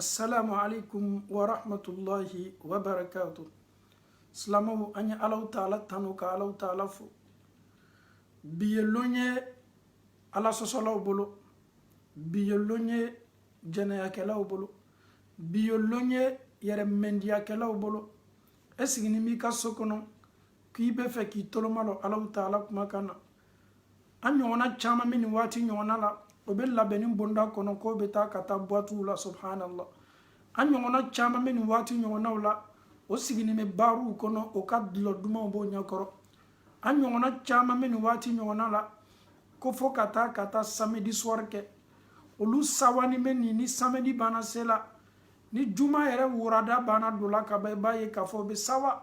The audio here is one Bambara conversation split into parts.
assalamu alaikum wa rahmatullahi wa barakatu silamaw an ye alaw taala tanu ka alaw taala fo bi ye lon ye ala sɔsɔlaw bolo bi ye lon ye jɛnɛyakɛlaw bolo bi ye lon ye yɛrɛ mɛndiyakɛlaw bolo e sigini b'i ka so kɔnɔ k'i bɛ fɛ k'i tolomalɔ alaw taala kuma kan na an ɲɔgɔnna caman bɛ nin waati ɲɔgɔnna la o bɛ labɛnni bonda kɔnɔ k'o bɛ taa ka taa buwatiw la subhanallah an ɲɔgɔnna caman bɛ nin waati ɲɔgɔnnaw la o sigilen bɛ baariw kɔnɔ o ka dulɔ dumanw b'o ɲɛkɔrɔ an ɲɔgɔnna caman bɛ nin waati ɲɔgɔnna la ko fo ka taa ka taa samedi soir kɛ olu sawani bɛ nin ni samedi banna se la ni juma yɛrɛ wurada banna don la ka ban i b'a ye k'a fɔ o bɛ sawa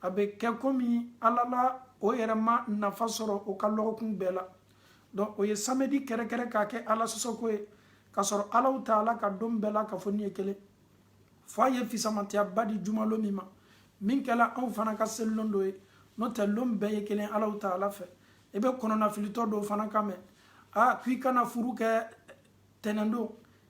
a bɛ kɛ komi ala la o yɛrɛ ma nafa sɔrɔ o ka lɔgɔkun bɛɛ la donc o ye samedi kɛrɛkɛrɛ k'a kɛ ala sɔsɔko ye k'a sɔrɔ alaw taala ka don bɛɛ lakafonin ye kelen fɔ a ye fisamatiyaba di jumalon min ma min kɛla anw fana ka selilon dɔ ye n'o tɛ lon bɛɛ ye kelen alaw taala fɛ i bɛ kɔnɔnafilitɔ dɔ fana kan mɛn a k'i kana furu kɛ tɛnɛndon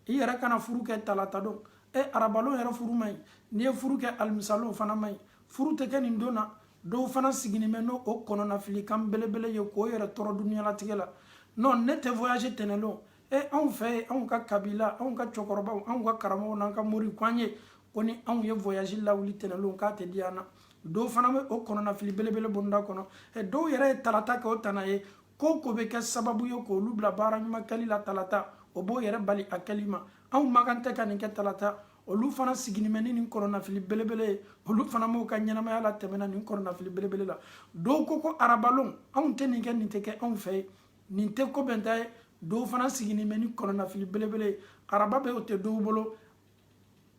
i yɛrɛ kana furu kɛ talata don e arabalon yɛrɛ furu man ɲi n'i ye furu kɛ alimisalon fana man ɲi furu tɛ kɛ nin don na dɔw fana sigilen bɛ n'o o kɔnɔnafilikan belebele ye k'o yɛrɛ tɔɔrɔ dunyalatigɛ la non ne tɛ voyage tɛnɛndon e anw fɛ yen anw ka kabila anw ka cɛkɔrɔbaw anw ka karamɔgɔw n'an ka mori k'an ye ko ni anw ye voyage lawuli tɛnɛndon k'a tɛ diya an na dɔw fana bɛ o kɔnɔnafili belebele bonda kɔnɔ dɔw yɛrɛ ye talata kɛ o tana ye ko ko bɛ kɛ sababu ye k'olu bila baara ɲuman kɛli la talata o b'o yɛrɛ bali a kɛli ma anw man kan tɛ ka nin kɛ talata olu fana sigilen bɛ ni nin kɔnɔnafili belebele ye olu fana b'u ka ɲɛnamaya latɛmɛna nin kɔnɔnafili belebele la dɔw ko ko arabalon anw tɛ nin kɛ nin tɛ kɛ anw fɛ yen nin tɛ ko bɛnta ye dɔw fana sigilen bɛ ni kɔnɔnafili belebele ye araba bɛ o tɛ dɔw bolo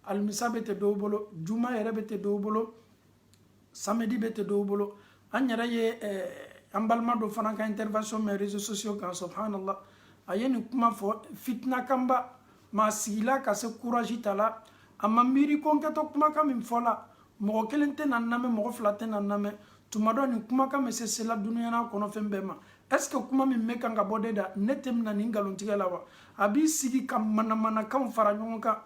alimisa bɛ tɛ dɔw bolo juma yɛrɛ bɛ tɛ dɔw bolo samedi bɛ tɛ dɔw bolo an yɛrɛ ye an balima dɔ fana ka intervention mɛn réseaux sociaux kan subhanallah a ye nin kuma fɔ fitina kanba maa sigila ka se courage ta la a ma miiri ko n kɛtɔ kumakan min fɔ la mɔgɔ kelen tɛna n lamɛn mɔgɔ fila tɛna n lamɛn tuma dɔ nin kumakan bɛ se sela dunuya n'a kɔnɔ fɛn bɛɛ ma est ce que kuma min bɛ kan ka bɔ ne da ne tɛ mina nin nkalontigɛ la wa a b'i sigi ka manamanakanw fara ɲɔgɔn kan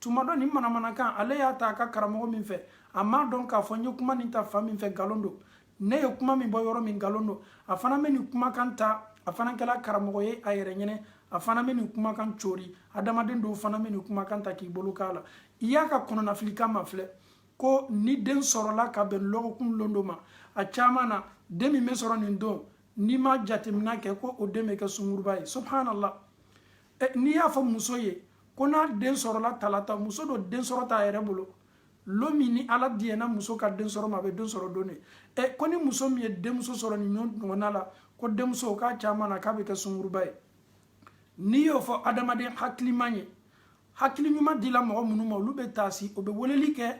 tuma dɔ nin manamanakan ale y'a ta a ka karamɔgɔ min fɛ a m'a dɔn k'a fɔ n ye kuma nin ta fan min fɛ nkalon don ne ye kuma min bɔ yɔrɔ min nkalon don a fana bɛ nin kumakan ta a fana kɛra karamɔgɔ ye a yɛrɛ ɲɛ na a fana bɛ nin kumakan cari adamaden dɔw fana bɛ nin kumakan ta k'i bolo k'a la i y'a ka kɔnɔnafilikan mafilɛ ko ni den sɔrɔla ka bɛn lɔgɔkun lon dɔ ma a caman na den min bɛ sɔrɔ nin don n'i ma jateminɛ kɛ ko o den bɛ kɛ sungurunba ye subhanallah n'i y'a fɔ muso ye ko n'a den sɔrɔla talata muso don den sɔrɔ t'a yɛrɛ bolo lon min ni ala diɲɛna muso ka den sɔrɔ ma a bɛ den sɔrɔ don de ɛ ko ni muso min ye denmuso sɔrɔ nin ɲɔgɔnna la ko denmuso k'a caman na k'a bɛ kɛ sunguruba ye n'i y'o fɔ adamaden hakilima ye hakili ɲuman dila mɔgɔ minnu ma olu bɛ taasi o bɛ weleli kɛ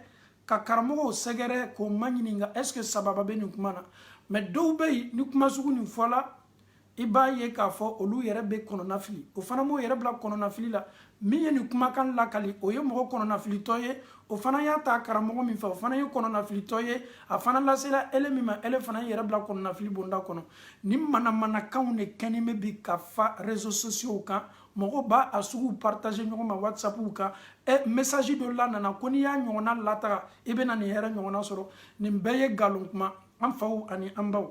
ka karamɔgɔw sɛgɛrɛ k'o maɲininka est-ce que sababu bɛ nin kuma na mais dɔw bɛ yen ni kuma sugu nin fɔla i b'a ye k'a fɔ olu yɛrɛ bɛ kɔnɔnafili o fana b'o yɛrɛ bila kɔnɔnafili la min ye nin kumakan lakali o ye mɔgɔ kɔnɔnafilitɔ ye o fana y'a ta karamɔgɔ min fɛ o fana ye kɔnɔnafilitɔ ye a fana lasela ele min ma ele fana yɛrɛ bila kɔnɔnafili bonda kɔnɔ nin manamanakanw de kɛnin bɛ bi ka fa réseaux sociaux kan mɔgɔw b'a suguw partager ɲɔgɔn ma whatsappiw kan ɛ message dɔ la nana ko n'i y'a ɲɔgɔnna lataga i bɛna nin hɛrɛ ɲɔgɔnna sɔrɔ nin bɛɛ ye nkalon kuma an faw ani an baw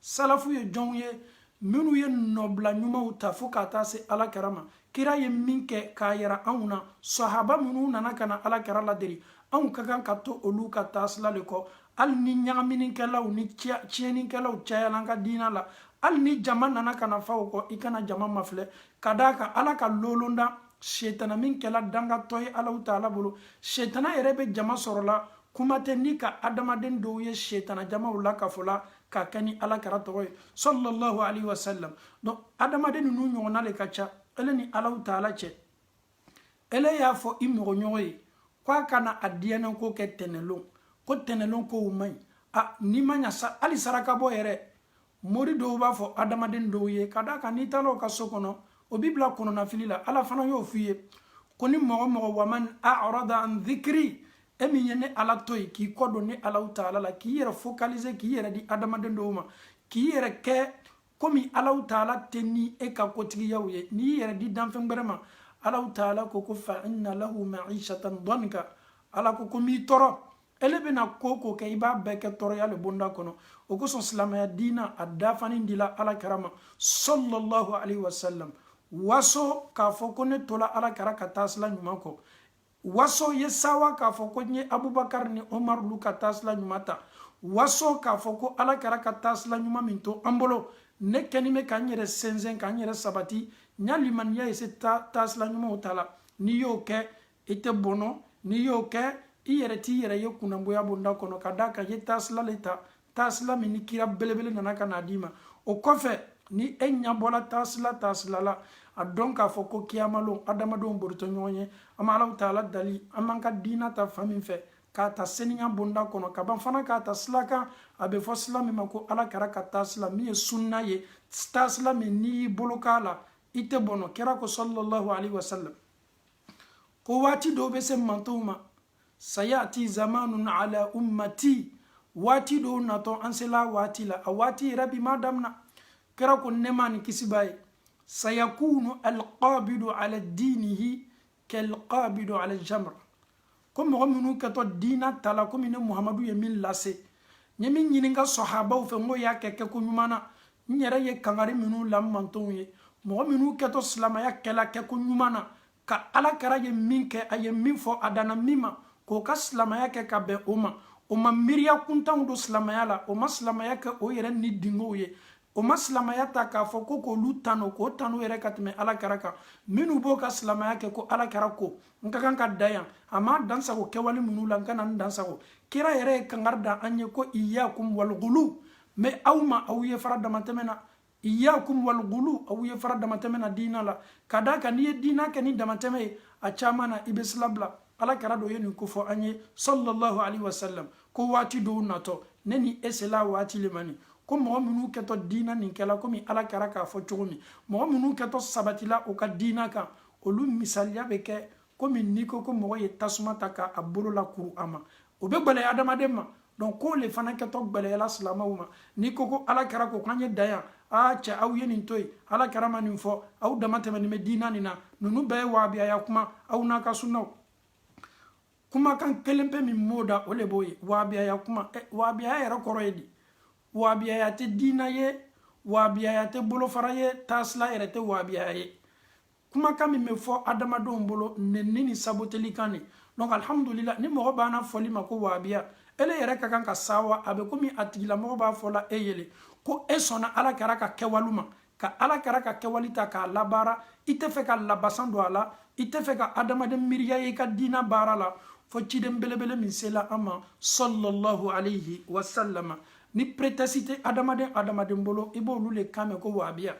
salafu ye jɔnw ye minnu ye nɔbila ɲumanw ta fo ka taa se ala kira ma kira ye min kɛ k'a yira anw na sahaba minnu nana ka na ala kira ladegi anw ka kan ka to olu ka taasila le kɔ hali ni ɲagaminikɛlaw ni tiɲɛnikɛlaw cayala an ka diina la hali ni jama nana ka na fa o kɔ i kana jama mafilɛ ka d'a kan ala ka lolonda setana min kɛla dangatɔ ye alahu taala bolo setana yɛrɛ bɛ jama sɔrɔla kuma tɛ ni ka adamaden dɔw ye setana jamaw lakafola ka kɛ ni ala kira tɔgɔ ye sallallahu alaihi wasallam donc adamaden ninnu ɲɔgɔnna de ka ca ele ni alahu taala cɛ ele y'a fɔ i mɔgɔɲɔgɔn ye ko a kana a diyanyeko kɛ tɛnɛlon ko tɛnɛlon kow man ɲi a n'i ma ɲa sa hali sarakabɔ yɛrɛ mori dɔw b'a fɔ adamaden dɔw ye ka d'a kan n'i taala o ka so kɔnɔ o b'i bila kɔnɔnafili la ala fana y'o f'i ye ko ni mɔgɔ mɔgɔ waman arada an dhikri e min ye ne ala to yen k'i kɔ don ne alahu taala la k'i yɛrɛ focaliser k'i yɛrɛ di adamaden dɔw ma k'i yɛrɛ kɛ komi alahu taala tɛ ni e ka kotigiyaw ye n'i y'i yɛrɛ di danfɛn wɛrɛ ma alahu taala ko ko fa inna lahu maishatan danka ala ko ko n b'i tɔɔrɔ ele bɛna ko o ko kɛ i b'a bɛɛ kɛ tɔɔrɔya le bonda kɔnɔ o kosɔn silamɛya diina a dafani dila ala kira ma sallallahu alaihi wasallam waso k'a fɔ ko ne tola ala kira ka taasila ɲuman kɔ waso ye sɛwa k'a fɔ ko n ye abubakar ni omar lu ka taasila ɲuman ta waso k'a fɔ ko ala kira ka taasila ɲuman min to an bolo ne kɛnin bɛ ka n yɛrɛ sinsin ka n yɛrɛ sabati n y'a limaniya ye se taasila ɲumanw ta la n'i y'o kɛ i tɛ bɔnɔ n'i y'o kɛ i yɛrɛ t'i yɛrɛ ye kunnangoya bonda kɔnɔ ka d'a kan i ye taasila le ta taasila min ni kira belebele nana ka n'a d'i ma o kɔfɛ ni e ɲɛbɔla taasila taasila la a dɔn k'a fɔ ko kiyamalon adamadenw boritɔ ɲɔgɔn ye an ma alahu taala dali an b'an ka diina ta fan min fɛ k'a ta seniya bonda kɔnɔ ka ban fana k'a ta sila kan a bɛ fɔ sila min ma ko ala kira ka taasila min ye sunna ye taasila min n'i y'i bolo k'a la i tɛ bɔnɔ kira ko sallallahu alaihi wasallam ko waati dɔw bɛ se n mantonw ma sayati zamanun ala ummati waati dɔw natɔ an sela waati la a waati yɛrɛ bi ma damina kira ko nɛɛma ni kisi b'a ye sayakunu alqabidu ala dinihi kalqabidu ala jamra ko mɔgɔ minnu kɛtɔ diina tala komi ne muhamadu ye min lase n ye min ɲini n ka sɔhabaw fɛ n k'o y'a kɛ kɛko ɲuman na n yɛrɛ ye kangari minnu la n mantonw ye mɔgɔ minnu kɛtɔ silamaya kɛla kɛko ɲuman na ka ala kira ye min kɛ a ye min fɔ a danna min ma k'o ka silamaya kɛ ka bɛn o ma o ma miiriya kuntanw don silamaya la o ma silamaya kɛ o yɛrɛ ni dungɔw ye o ma silamaya ta k'a fɔ ko k'olu tano k'o tano yɛrɛ ka tɛmɛ ala kira kan minnu b'o ka silamaya kɛ ko ala kira ko n ka kan ka dan yan a ma dansagon kɛwale minnu la n kana n dansagon kira yɛrɛ ye kangari da an ye ko iyakum walgulu mɛ aw ma aw ye fara damatɛmɛ na iyakum walgulu aw ye fara damatɛmɛ na diina la ka d'a kan n'i ye diina kɛ ni damatɛmɛ ye a caman na i bɛ sila bila ala kira dun ye nin kofɔ an ye sallallahu alaihi wasallam ko waati dɔw natɔ ne ni e sela waati le ma nin ko mɔgɔ minnu kɛtɔ diina nin kɛla komi ala kira k'a fɔ cogo min mɔgɔ minnu kɛtɔ sabatila u ka diina kan olu misaliya bɛ kɛ komi n'i ko ko mɔgɔ ye tasuma ta k'a bolo lakuru a ma o bɛ gbɛlɛya adamaden ma donc k'o le fana kɛtɔ gbɛlɛyala silamɛw ma n'i ko ko ala kira ko k'an ye dan yan aa cɛ aw ye nin to yen ala kira ma nin fɔ aw damatɛmɛnin bɛ diina nin na ninnu bɛɛ ye wahabiyaya kuma aw n'a ka sunnaw kumakan kelen pe min b'o da o le b'o ye wahabiyaya kuma eh, wahabiyaya yɛrɛ kɔrɔ ye di wahabiyaya tɛ diina ye wahabiyaya tɛ bolofara ye taasila yɛrɛ tɛ wahabiyaya ye kumakan min bɛ fɔ adamadenw bolo nɛni ni saboteli kan de donc alhamdulila ni mɔgɔ bɛn'a fɔ i ma ko wahabiya ele yɛrɛ ka kan ka sɛwa a bɛ komi a tigilamɔgɔ b'a fɔla e ye le ko e sɔnna ala kira ka kɛwali ma ka ala kira ka kɛwali ta k'a labaara i tɛ fɛ ka labasan don a la i tɛ fɛ ka adamaden miiriya ye i ka diina baara la fo ciden belebele min sela an ma sallallahu alayhi wa sallama ni pretɛsi tɛ adamaden adamaden bolo i b'olu le kan mɛn ko wahabiya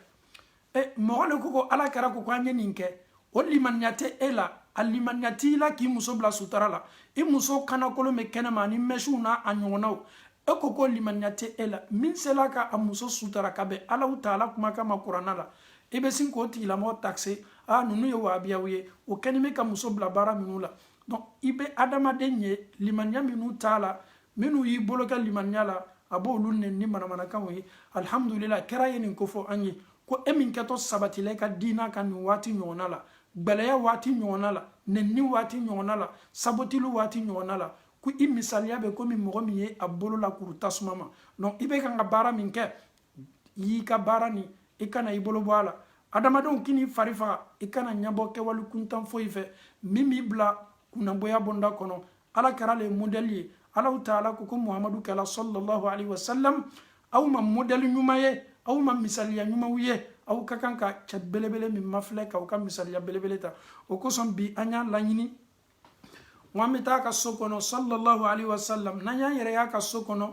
e mɔgɔ le ko ko ala kɛra ko ko an ye nin kɛ o limaniya tɛ e la a limaniya t'i la k'i muso bila sutara la i muso kanakolon bɛ kɛnɛma ani mɛsiw n'a ɲɔgɔnnaw e ko ko limaniya tɛ e la min sela ka a muso sutara ka bɛn alahu taala kumakan ma kuranna la i bɛ sin k'o tigilamɔgɔ takse a ninnu ye wahabiyaw ye o kɛni bɛ ka muso bila baara ninnu la donc i bɛ adamaden ye limaniya minnu t'a la minnu y'i bolo kɛ limaniya la a b'olu nɛni ni manamanakanw ye alihamudulila kira ye nin ko fɔ an ye ko e min kɛtɔ sabatila i ka diina kan nin waati ɲɔgɔnna la gbɛlɛya waati ɲɔgɔnna la nɛnini waati ɲɔgɔnna la sabotili waati ɲɔgɔnna la ko i misaliya bɛ komi mɔgɔ min ye a bolo lakuru tasuma ma donc i bɛ kan ka baara min kɛ y'i ka baara ni i kana i bolo bɔ a la adamadenw kan'i fari faga i kana ɲɛbɔ kɛwale kuntan foyi fɛ min b'i bila kunnagoya bonda kɔnɔ ala kɛra le modɛli ye alahu taala ko ko muhamadu kɛla sallallahu alaihi wasallam aw ma modɛli ɲuman ye aw ma misaliya ɲumanw ye aw ka kan ka cɛ belebele min mafilɛ k'aw ka misaliya belebele ta o kosɔn bi an y'a laɲini n ko an bɛ taa a ka so kɔnɔ sallallahu alaihi wasallam n'an y'an yɛrɛ y'a ka so kɔnɔ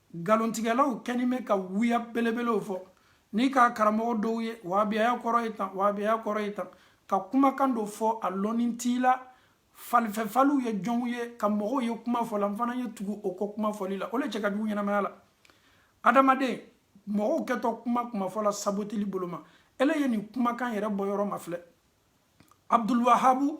nkalontigɛlaw kɛni bɛ ka wuya belebelew fɔ n'i ka karamɔgɔ dɔw ye wahabiyaya kɔrɔ ye tan wahabiyaya kɔrɔ ye tan ka kumakan dɔ fɔ a lɔnni t'i la falifɛfaliw ye jɔnw ye ka mɔgɔw ye kuma fɔ la n fana ye tugu o kɔ kuma fɔli la o le cɛ ka jugu ɲɛnamaya la adamaden mɔgɔw kɛtɔ kuma kuma fɔ la sabotili boloma ele ye nin kumakan yɛrɛ bɔyɔrɔ mafilɛ abdulwahabu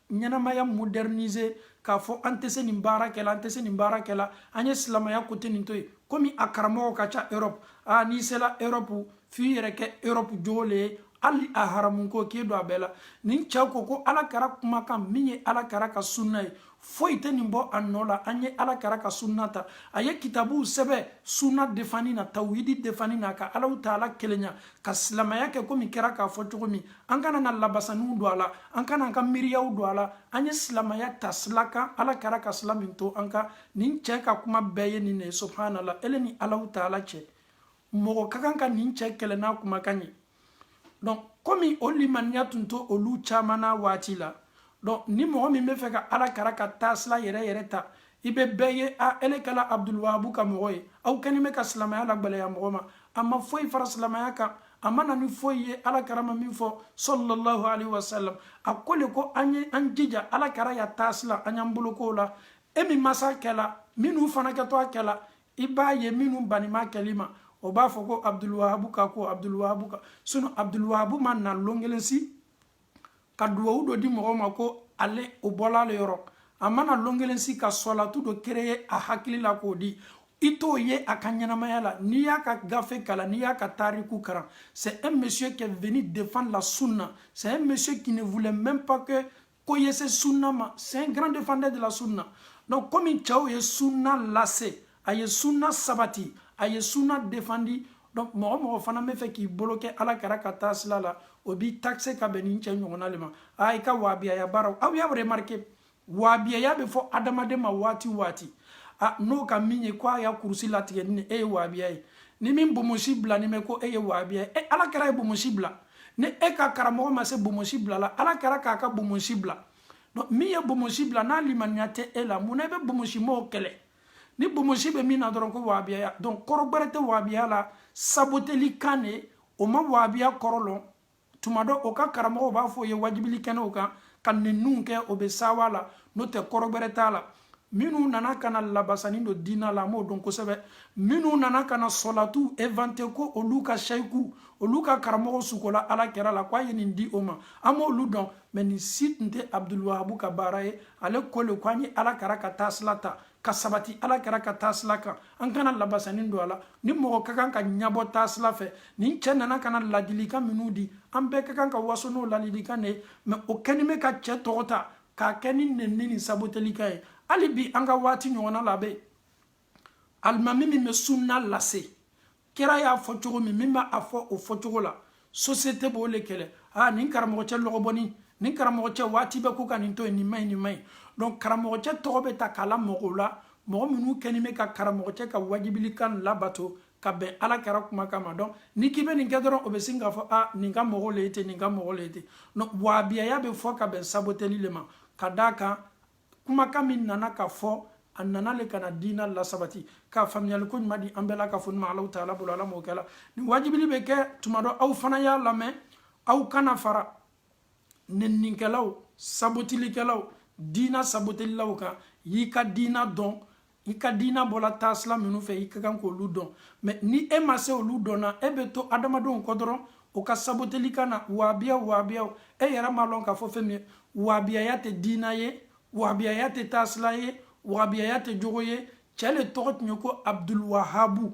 ɲɛnamaya moderniser k'a fɔ an tɛ se nin baara kɛla an tɛ se nin baara kɛla an ye silamaya côté nin to yen komi a karamɔgɔ ka ca europe a n'i sela europe f'i yɛrɛ kɛ europe jogo le ye hali a haramu ko k'e don a bɛɛ la nin cɛ ko ko ala kɛra kumakan min ye ala kɛra ka sunna ye foyi tɛ nin bɔ a nɔ la an ye ala kɛra ka sunna ta a ye kitabuw sɛbɛ sunna defani na tawhidi defani na ka alahu taala kelenya ka silamaya kɛ komi kɛra k'a fɔ cogo min an kana an ka labasaniw don a la an kana an ka miiriyaw don a la an ye silamaya ta sila kan ala kɛra ka sila min to an ka nin cɛ ka kuma bɛɛ ye nin de ye subhanala ele ni alahu taala cɛ mɔgɔ ka kan ka nin cɛ kɛlɛ n'a kumakan ye donc komi o limaniya tun t'olu caman na waati la donc ni mɔgɔ min b'a fɛ ka ala kɛra ka taasila yɛrɛ yɛrɛ ta i bɛ bɛɛ ye a ele kɛla abudulwahabu ka mɔgɔ ye aw kɛni bɛ ka silamaya lagbɛlɛya mɔgɔ ma a ma foyi fara silamaya kan a ma na ni foyi ye ala kɛra ma min fɔ sallallahu alaihi wasallam a ko le ko an ye an jija ala kɛra ya taasila an y'an bolo k'o la e min ma s'a kɛla minnu fana kɛtɔ a kɛla i b'a ye minnu banni b'a kɛli ma o b'a fɔ ko abudulwahabu ka ko abudulwahabu ka sinon abudulwahabu ma na lon kelen si ka duwawu dɔ di mɔgɔ ma ko ale o bɔla ale yɔrɔ a ma na lon kelen si ka sɔlatu dɔ créer a hakili la k'o di i t'o ye a ka ɲɛnamaya la n'i y'a ka gafe kalan n'i y'a ka tariku kalan c'est un monsieur qui est venu défendre la sunna c'est un monsieur qui ne voulait même pas que ko ye se sunna ma c'est un grand défendeur de la sunna donc komi cɛ o ye sunna lase a ye sunna sabati a ye sunna defandi donc mɔgɔ mɔgɔ fana b'a fɛ k'i bolo kɛ ala kɛra ka taasila la o b'i taxer ka bɛn ni cɛ tɔgɔ le ma a i ka waabiyaya baaraw aw y'a remarqué waabiyaya bɛ fɔ adamaden ma waati waati a n'o ka min ye ko a y'a kurusi latigɛ ni e ye waabiya ye ni min bomosi bila ni mɛ ko e ye waabiya ye e ala kɛra ye bomosi bila ni e ka karamɔgɔ ma se bomosi bila la ala kɛra k'a ka bomosi bila donc min ye bomosi bila n'a limaniya tɛ e la mun na i bɛ bomosi mɔgɔw kɛlɛ ni bomosi bɛ min na dɔrɔn ko wahabiya donc kɔrɔ gbɛrɛ tɛ wahabiya la saboteli kan de o ma wahabiya kɔrɔ lɔn tuma dɔ o ka karamɔgɔw b'a fɔ o ye wajibili kɛnɛw kan ka ninnu kɛ o bɛ sawa la n'o tɛ kɔrɔ gbɛrɛ t'a la minnu nana ka na labasanni don diina la an b'o dɔn kosɛbɛ minnu nana ka na sɔlatu inventer ko olu ka seyiku olu ka karamɔgɔ sugola ala kɛra la k'a ye nin di o ma an b'olu dɔn mɛ nin si tun tɛ abudulwahabu ka baara ye ale ko le ko an ye ala kɛra ka taasila ta ka sabati ala kɛra ka taasila kan an kana labasanni don a la ni mɔgɔ ka kan ka ɲɛbɔ taasila fɛ nin cɛ nana ka na ladilikan minnu di an bɛɛ ka kan ka waso n'o ladilikan de ye mɛ o kɛnin bɛ ka cɛ tɔgɔ ta k'a kɛ ni nenni ni sabotelikan ye hali bi an ka waati ɲɔgɔnna la bɛ alimami min bɛ sunna lase kira y'a fɔ cogo min min b'a fɔ o fɔ cogo la société b'o le kɛlɛ aa nin karamɔgɔcɛ lɔgɔbɔni nin karamɔgɔcɛ waati bɛɛ ko ka nin to yen nin ma ɲi nin ma ɲi donc karamɔgɔcɛ tɔgɔ bɛ ta k'a la mɔgɔw la mɔgɔ minnu kɛnin bɛ ka karamɔgɔcɛ ka wajibilikan labato ka bɛn ala kɛra kumakan ma donc n'i k'i bɛ nin kɛ dɔrɔn o bɛ sin k'a fɔ a nin ka mɔgɔ le ye ten nin ka mɔgɔ le ye ten wabiyaya bɛ fɔ ka bɛn saboteli le ma ka d'a kan kumakan min nana ka fɔ a nana le ka na diina lasabati ka faamuyali ko ɲuman di an bɛɛ la ka fɔ ni ma alaw taala bolo ala m'o kɛla nin wajibili bɛ kɛ tuma dɔ aw fana y'a lamɛn aw kana fara nennikɛlaw sabotelikɛlaw diina sabotelilaw kan y'i ka diina dɔn i ka diina bɔla taasila minnu fɛ i ka kan k'olu dɔn mɛ ni e ma se olu dɔnna e bɛ to adamadenw kɔ dɔrɔn o ka sabotelikan na waabiya waabiya e yɛrɛ m'a lɔn k'a fɔ fɛn min ye waabiyaya tɛ diina ye waabiyaya tɛ taasila ye waabiyaya tɛ jogo ye cɛ le tɔgɔ tun ye ko abdulwahabu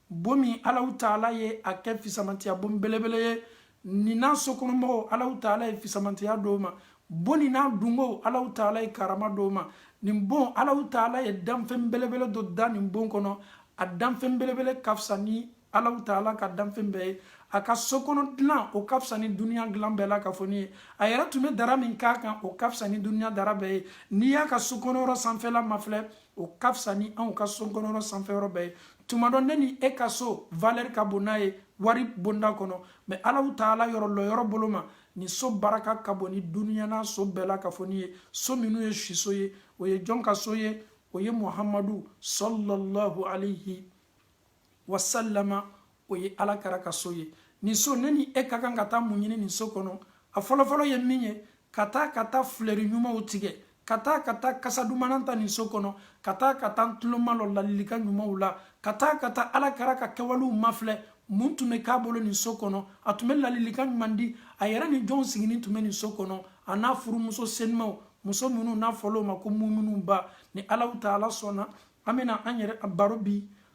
bon min alaw taala ye a kɛ fisamantiya bon belebele ye nin n'a sokɔnɔmɔgɔw alaw taala ye fisamantiya d'o ma bon nin n'a dungow alaw taala ye karama d'o ma nin bon alaw taala ye danfɛn belebele dɔ da nin bon kɔnɔ a danfɛn belebele ka fisa ni alaw taala ka danfɛn bɛɛ ye a ka sokɔnɔ dilan o ka fisa ni duniya dilan bɛɛ lakafonin ye a yɛrɛ tun bɛ dara min k'a kan o ka fisa ni duniya dara bɛɛ ye n'i y'a ka sokɔnɔyɔrɔ sanfɛla mafilɛ o ka fisa ni anw ka sokɔnɔyɔrɔ sanfɛyɔrɔ bɛɛ ye tuma dɔ ne ni e ka so valeur ka bon n'a ye wari bonda kɔnɔ mais alaw taala yɔrɔ lɔyɔrɔ bolo ma nin so baraka ka bon ni duniyana so bɛɛ lakafonin ye so minnu ye siso ye o ye jɔn ka so ye o ye muhamadu sallallahu alaihi wasallam o ye ala kɛra ka so ye nin so ne ni e ka kan ka taa mun ɲini nin so kɔnɔ a fɔlɔfɔlɔ ye min ye ka taa ka taa filɛri ɲumanw tigɛ ka taa ka taa kasa dumanan ta nin so kɔnɔ ka taa ka taa tulomalɔ ladilikan ɲumanw la ka taa ka taa ala kɛra ka kɛwalew mafilɛ mun tun bɛ k'a bolo nin so kɔnɔ a tun bɛ ladilikan ɲuman di a yɛrɛ ni jɔnw siginin tun bɛ nin so kɔnɔ a n'a furumuso senumaw muso minnu n'a fɔla o ma ko muminuw ba ni alaw taala sɔnna an bɛna an yɛrɛ baro bi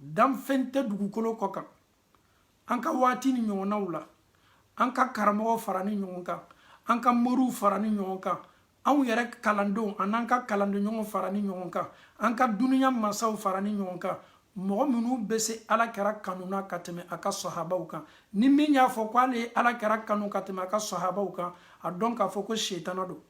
danfɛn tɛ dugukolo kɔ kan an ka wagati nin ɲɔgɔnnaw la an ka karamɔgɔw faranin ɲɔgɔn kan an ka moriw faranin ɲɔgɔn kan anw yɛrɛ kalandenw an'an ka kalandenɲɔgɔn faranin ɲɔgɔn kan an ka duniya masaw faranin ɲɔgɔn kan mɔgɔ minnu bɛ se ala kɛra kanu na ka tɛmɛ a ka sɔhabaw kan ni min y'a fɔ ko ale ye ala kɛra kanu ka tɛmɛ a ka sɔhabaw kan a dɔn k'a fɔ ko setana don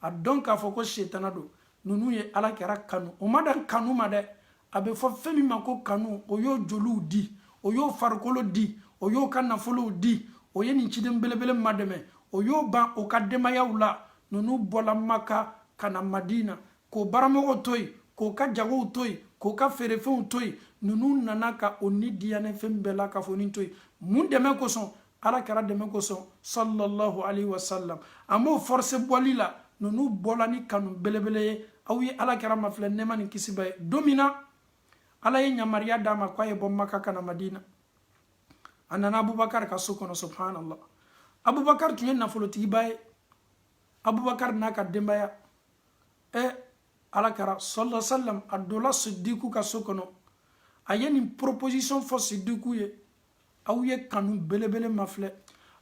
a dɔn k'a fɔ ko setana don ninnu ye ala kɛra kanu o ma dan kanu ma dɛ a bɛ fɔ fɛn min ma ko kanu o y'o joliw di o y'o farikolo di o y'o ka nafolow di o ye nin ciden belebele madɛmɛ o y'o ban o ka denbayaw la ninnu bɔla maka ka na madina k'o baramɔgɔw to yen k'o ka jagow to yen k'o ka feerefɛnw to yen ninnu nana ka o ni diyanyefɛn bɛɛ lakafonin to yen mun dɛmɛ kosɔn ala kɛra dɛmɛ kosɔn sallallahu alaihi wasallam a m'o force bɔli la ninnu bɔla ni kanu belebele ye aw ye ala kɛra mafilɛ nɛɛma ni kisi b'a ye don min na ala ye yamariya d'a ma k'a ye bɔ maka ka na madina a nana abubakar ka so kɔnɔ subhanallah abubakar tun ye nafolotigiba ye abubakar n'a ka denbaya ɛ ala kɛra sallallahu alaihi wasallam a donna sidiku ka so kɔnɔ a ye nin proposition fɔ sidiku ye aw ye kanu belebele mafilɛ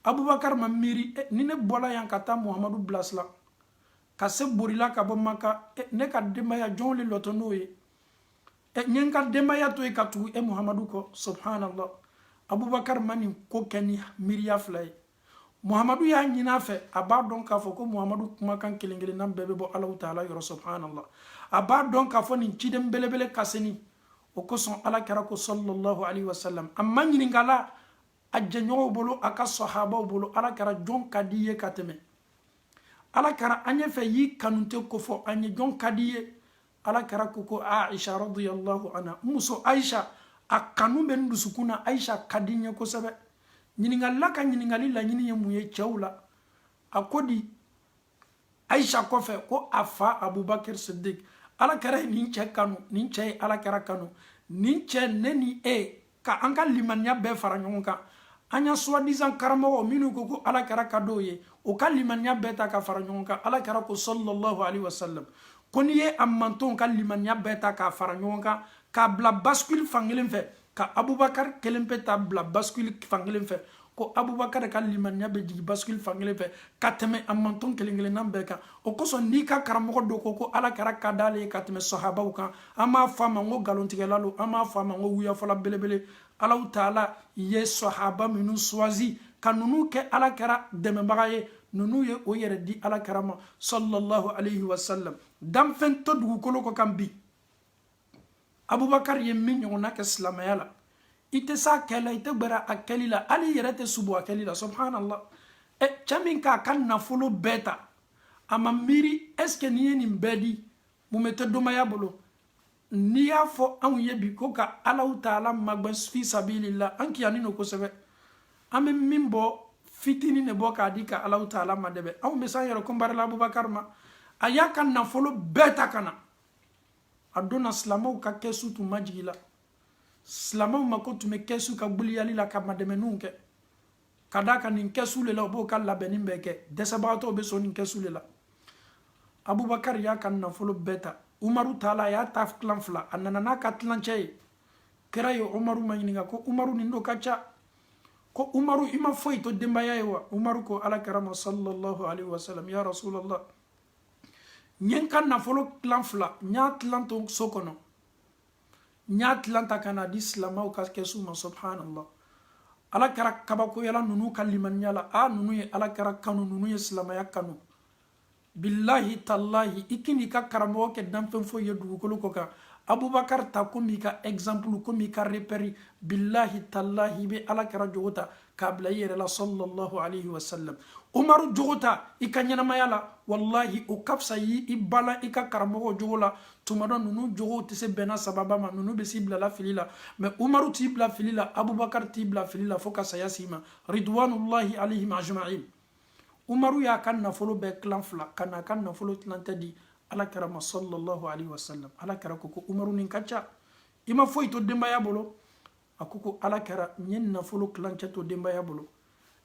abubakar ma miiri eh, ni ne bɔla yan ka taa muhamadu bilasira ka se bori la ka bɔ maka eh, ne ka denbaya jɔnw le lɔtɔ n'o ye eh, n ye n ka denbaya to yen ka tugu e muhamadu kɔ subhanallah abubakar ma nin ko kɛ ni miiriya fila ye muhamadu y'a ɲini a fɛ a b'a dɔn k'a fɔ ko muhamadu kumakan kelen kelennan bɛɛ bɛ bɔ alahu taala yɔrɔ subhanallah a b'a dɔn k'a fɔ nin ciden belebele kasini o kosɔn ala kɛra ko sallallahu alaihi wasallam a maɲininkala a jɛɲɔgɔnw bolo a ka sahabaw bolo ala kɛra jɔn ka d'i ye ka tɛmɛ ala kɛra an y'a fɛ i y'i kanute kofɔ an ye jɔn ka d'i ye ala kɛra ko ko aisha radiyallahu anha n muso aisha a kanu bɛ n dusukun na aisha ka di n ye kosɛbɛ ɲininkalila ka ɲininkali laɲini ye mun ye cɛw la a ko di aisha kɔfɛ ko a fa abubakar siddiq ala kɛra ye nin cɛ kanu nin cɛ ye ala kɛra kanu nin cɛ ne ni e ka an ka limaniya bɛɛ fara ɲɔgɔn kan ani a soi-disant karamɔgɔ minnu ko ko ala kɛra ka d'o ye o ka limaniya bɛɛ ta ka fara ɲɔgɔn kan ala kɛra ko sallallahu alaihi wasallam ko n'i ye a mantɔnw ka limaniya bɛɛ ta k'a fara ɲɔgɔn kan k'a bila basikili fankelen fɛ ka abubakari kelen pe ta bila basikili fankelen fɛ ko abubakar ka limaniya bɛ jigin basikili fankelen fɛ ka tɛmɛ a mantɔn kelen kelennan bɛɛ kan o kosɔn n'i ka karamɔgɔ dɔ ko ko ala kɛra ka d'ale ye ka tɛmɛ sahabaw kan an b'a fɔ a ma ko nkalontigɛla don an b'a fɔ a ma ko wuyafɔla belebele alahu taala ye sahaba minnu choisi ka ninnu kɛ ala kɛra dɛmɛbaga ye ninnu ye o yɛrɛ di ala kɛra ma sallallahu alayhi wa sallam danfɛn tɛ dugukolo kɔ kan bi abubakari ye min ɲɔgɔnna kɛ silamɛya la i tɛ s'a kɛ la i tɛ gbɛrɛ a kɛli la hali i yɛrɛ tɛ sibo a kɛli la subhanallah ɛ cɛ min k'a ka nafolo bɛɛ ta a ma miiri est ce que n'i ye nin bɛɛ di mun bɛ to denbaya bolo n'i y'a fɔ anw ye bi ko ka alahu taala magɛn fi sabilillah an kiyani no kosɛbɛ an bɛ min bɔ fitini de bɔ k'a di ka alahu taala madɛmɛ anw bɛ s'an yɛrɛ comparer la abubakar ma a y'a ka nafolo bɛɛ ta ka na a donna silamɛw ka kɛsu tun majigila silamɛw mako tun bɛ kɛsu ka guliyali la ka madɛmɛninw kɛ ka d'a kan nin kɛsu de la u b'o ka labɛnni bɛɛ kɛ dɛsɛbagatɔw bɛ sɔn nin kɛsu de la abubakari y'a ka nafolo bɛɛ ta umaru taala a y'a ta tilan fila a nana n'a ka tilancɛ ye kira ye umaru maɲininka ko umaru nin dun ka ca ko umaru i ma foyi to denbaya ye wa umaru ko ala kira ma sallallahu alaihi wasallam ya rasulallah n ye n ka nafolo tilan fila n y'a tilan to so kɔnɔ n y'a tilan ta ka n'a di silamɛw ka kɛsu ma subhanallah ala kɛra kabakoyala ninnu ka limaniya la a ninnu ye ala kɛra kanu ninnu ye silamɛya kanu bilahi talahi i kan'i ka karamɔgɔ kɛ danfɛn foyi ye dugukolo kɔ kan abubakar ta komi i ka exemple komi i ka repère bilahi talahi i bɛ ala kɛra jogo ta k'a bila i yɛrɛ la sallallahu alayhi wa sallam umaru jogo ta i ka ɲɛnamaya la walahi o ka fisa i y'i balan i ka karamɔgɔ jogo la tuma dɔ ninnu jogow tɛ se bɛnna sahaba ma ninnu bɛ s'i bilala fili la mais umaru t'i bila fili la abubakar t'i bila fili la fo ka saya s'i ma ridwanullahi alayhim ajma'in umaru y'a ka nafolo bɛɛ tilan fila ka n'a ka nafolo tilancɛ di ala kɛra ma sallallahu alayhi wa sallam ala kɛra ko ko umaru nin ka ca i ma foyi to denbaya bolo a ko ko ala kɛra n ye nafolo tilancɛ to denbaya bolo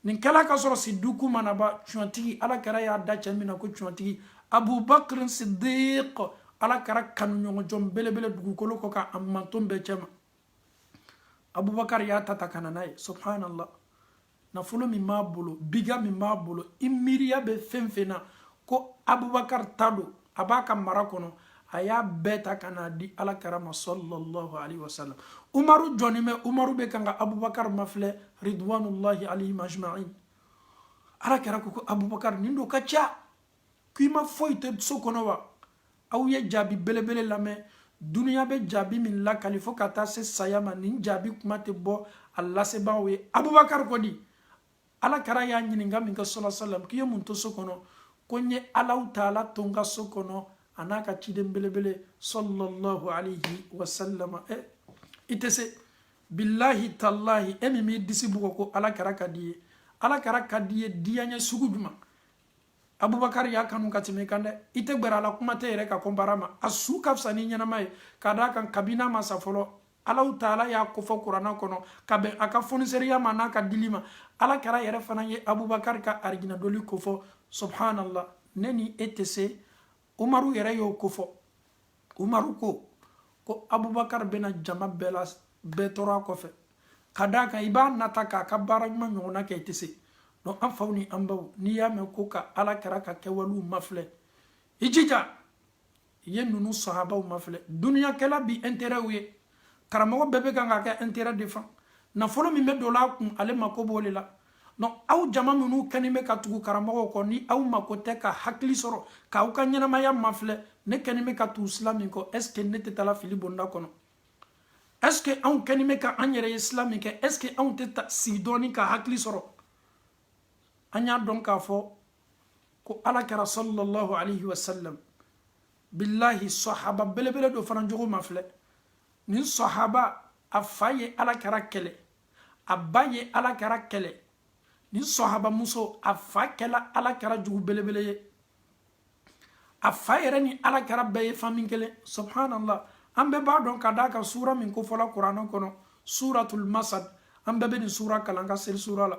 nin kɛla ka sɔrɔ sidiku ma na ba cɔntigi ala kɛra y'a da cɛ min na ko cɔntigi abubakrin sidik ala kɛra kanuɲɔgɔnjɔn belebele dugukolo kɔ ka a manton bɛɛ cɛma abubakar y'a ta ta ka na n'a ye subhanallah nafolo min b'a bolo biga min b'a bolo i miiriya bɛ fɛn fɛn na ko abubakar ta don a b'a ka mara kɔnɔ a y'a bɛɛ ta ka n'a di ala kɛra ma sallallahu alaihi wasallam umaru jɔnen bɛ umaru bɛ kan ka abubakar mafilɛ ridwanullahi alaihim ajma'in ala kɛra ko ko abubakar nin don ka ca k'i ma foyi to so kɔnɔ wa aw ye jaabi belebele lamɛn dunuya bɛ jaabi min lakali fo ka taa se saya ma nin jaabi kuma tɛ bɔ a lasebaaw ye abubakari kɔni ala kɛra y'a ɲininka min kɛ sɔlɔ salam k'i ye mun to so kɔnɔ ko n ye ala taala to n ka so kɔnɔ an'a ka ciden belebele sallallahu alayhi wa sallam ɛ i tɛ se bilahi talahi e min b'i disi bugɔ ko ala kɛra ka d'i ye ala kɛra ka d'i ye diyaɲɛ sugu jumɛn abubakari y'a kanu ka tɛmɛ i kan dɛ i tɛ gbɛrɛ a la kuma tɛ yɛrɛ ka kɔnbara ma a su ka fisa ni ɲɛnama ye ka d'a kan kabini a ma sa fɔlɔ allahu taala y'a kofɔ kuranna kɔnɔ ka bɛn a ka foniseriya ma n'a ka dili ma ala kɛra yɛrɛ fana ye abubakari ka arijina donli kofɔ subhanallah ne ni e tɛ se umaru yɛrɛ y'o kofɔ umaru ko ko abubakar bɛna jama bɛɛ la bɛɛ tɔɔrɔ a kɔfɛ ka d'a kan i b'a nata k'a ka baara ɲuman ɲɔgɔnna kɛ i tɛ se donc an faw ni an baw n'i y'a mɛn ko ka ala kɛra ka kɛwalew mafilɛ i jija i ye ninnu sahabaw mafilɛ duniya kɛla bi intérêtw ye karamɔgɔ bɛɛ bɛ kan ka kɛ intérêt de fan nafolo min bɛ don a kun ale mako b'o de la donc aw jama minnu kɛni bɛ ka tugu karamɔgɔw kɔ ni aw mako tɛ ka hakili sɔrɔ k'aw ka ɲɛnamaya mafilɛ ne kɛni bɛ ka tugu sila min kɔ est ce que ne tɛ taala fili bonda kɔnɔ est ce que anw kɛni bɛ ka an yɛrɛ ye sila min kɛ est ce que anw tɛ sigi dɔɔni ka hakili sɔrɔ an y'a dɔn k'a fɔ ko ala kɛra sallallahu alaihi wa sallam bilahi sahaba belebele dɔ fana jogo mafilɛ nin sahaba a fa ye ala kɛra kɛlɛ a ba ye ala kɛra kɛlɛ nin sahabamuso a fa kɛla ala kɛra jugu belebele ye a fa yɛrɛ ni ala kɛra bɛɛ ye fami kelen subhanallah an bɛɛ b'a dɔn ka d'a kan suura min kofɔla kuranɛ kɔnɔ suratul masad an bɛɛ bɛ nin suura kalan ka seli suura la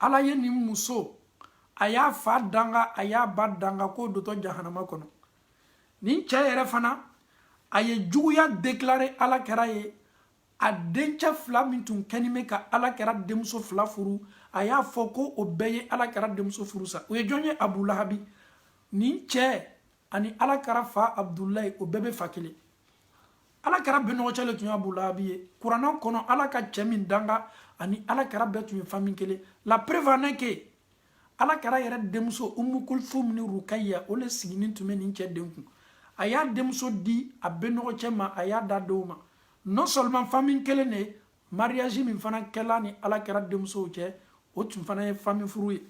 ala ye nin muso a y'a fa danga a y'a ba danga k'o dontɔ jahanama kɔnɔ nin cɛ yɛrɛ fana a ye juguya deklare ala kɛra ye a dencɛ fila min tun kɛnin bɛ ka ala kɛra denmuso fila furu a y'a fɔ ko o bɛɛ ye ala kɛra denmuso furusa o ye jɔn ye abu lahabi nin cɛ ani ala kɛra fa abudulayi o bɛɛ bɛ fa kelen ala kɛra bɛnɔgɔcɛ le tun ye abu lahabi ye kuranna kɔnɔ ala ka cɛ min danga ani ala kɛra bɛɛ tun ye fami kelen la preuve en est que ala kɛra yɛrɛ denmuso umu kulsum ni rukaya o le siginin tun bɛ nin cɛ den kun a y'a denmuso di a bɛnɔgɔcɛ ma a y'a da dɔw ma non seulement fami kelen de ye mariage min fana kɛla ni ala kɛra denmusow cɛ o tun fana ye fami furu ye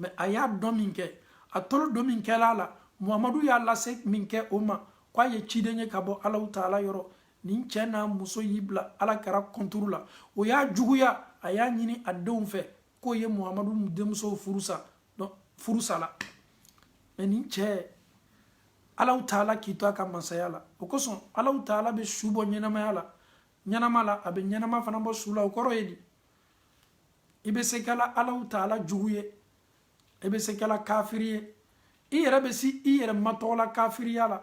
mɛ a y'a dɔn min kɛ a tolo don min kɛla a la muhamadu y'a lase min kɛ o ma ko a ye ciden ye ka bɔ alaw taala yɔrɔ nin cɛ n'a muso y'i bila ala kɛra kɔnturu la o y'a juguya a y'a ɲini a denw fɛ k'o ye muhamadu denmusow furusa furusa la mɛ nin cɛ alaw taala k'i to a ka masaya la o kosɔn alaw taala bɛ su bɔ ɲɛnamaya la ɲɛnama la a bɛ ɲɛnama fana bɔ su la o kɔrɔ ye di i bɛ se kɛla alaw taala jugu ye i bɛ se kɛla kafiri ye i yɛrɛ bɛ se i yɛrɛ matɔgɔla kafiriya la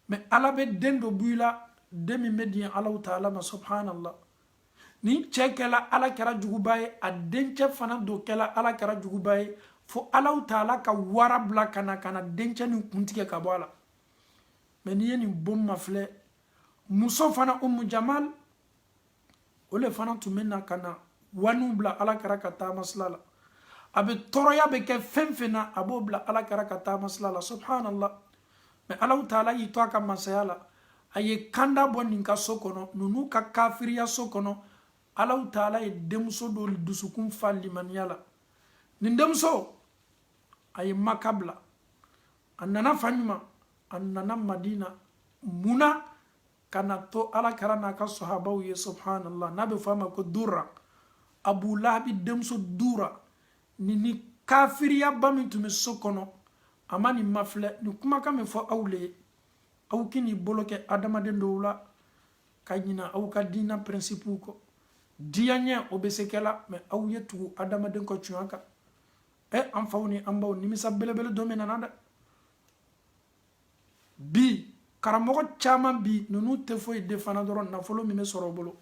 mɛ ala bɛ den dɔ b'i la den min bɛ diɲɛ alaw taala ma subhanallah nin cɛ kɛla ala kɛra juguba ye a dencɛ fana dɔ kɛla ala kɛra juguba ye fo alaw taala ka wara bila ka na ka na dencɛ nin kun tigɛ ka bɔ a la mɛ n'i ye nin bon mafilɛ muso fana umu jamal o le fana tun bɛ na ka na waniw bila ala kɛra ka taamasira la a bɛ tɔɔrɔya bɛ kɛ fɛn fɛn na a b'o bila ala kɛra ka taamasira la subhanallah mɛ alaw taala y'i to a ka masaya la a ye kanda bɔ nin ka so kɔnɔ ninnu ka kafiriya so kɔnɔ alaw taala ye denmuso dɔ dusukun fa limaniya la nin denmuso a ye maka bila a nana fan ɲuman a nana madina mun na ka na to ala kɛra n'a ka sahabaw ye subhanallah n'a bɛ fɔ a ma ko dura abu lahabi denmuso dura nin kafiriyaba min tun bɛ so kɔnɔ a ma nin mafilɛ nin kumakan min fɔ aw le ye aw kan'i bolo kɛ adamaden dɔw la ka ɲina aw ka diina pɛrɛnsipuw kɔ diyaɲɛ o bɛ se kɛla mɛ aw ye tugu adamaden ka tuɲa kan ɛ an faw ni an baw nimisa belebele dɔ min nana dɛ bi karamɔgɔ caman bi ninnu tɛ foyi de fana dɔrɔn nafolo min bɛ sɔrɔ o bolo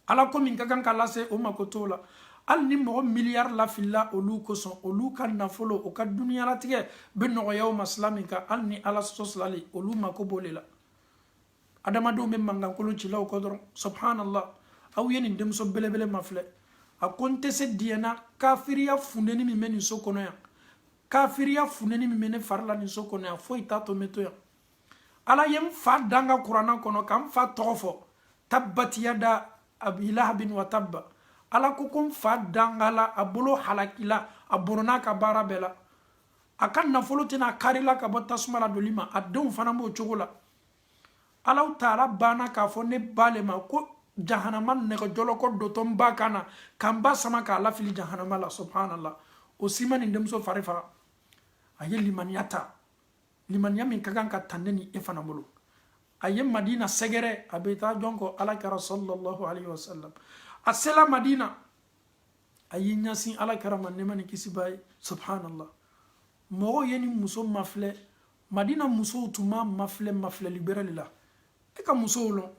ala ko min ka kan ka lase o mako t'o la hali ni mɔgɔ miliyari lafilila olu kosɔn olu ka nafolo o ka duniyalatigɛ bɛ nɔgɔya o ma sila min kan hali ni ala sɔsilali olu mako b'o de la adamadenw bɛ mankankolon cilaw kɔ dɔrɔn subhanallah aw ye nin denmuso belebele mafilɛ a ko n tɛ se diɲɛ na kafiriya funteni min bɛ nin so kɔnɔ yan kafiriya funteni min bɛ ne fari la nin so kɔnɔ yan foyi t'a to n bɛ to yan ala ye n fa danga kuranna kɔnɔ ka n fa tɔgɔ fɔ tabbat yada abi lahabin wa tabba ala ko ko n fa dangala a bolo halakila a bɔnɔna a ka baara bɛɛ la a ka nafolo tɛna a karila ka bɔ tasuma la donli ma a denw fana b'o cogo la allahu taala banna k'a fɔ ne ba le ma ko jahanama nɛgɛjɔlɔkɔ dontɔ n ba kan na ka n ba sama k'a lafili jahanama la subhanallah o si ma nin denmuso fari faga a ye limaniya ta limaniya min ka kan ka ta ne ni e fana bolo a ye madina sɛgɛrɛ a bɛ taa jɔn kɔ ala kira sallallahu alaihi wa sallam a sela madina a y'i ɲɛsin ala kira ma nɛma ni kisi b'a ye subhanallah mɔgɔw ye nin muso mafilɛ madina musow tun m'a mafilɛ mafilɛli bɛrɛ de la e ka musow lɔn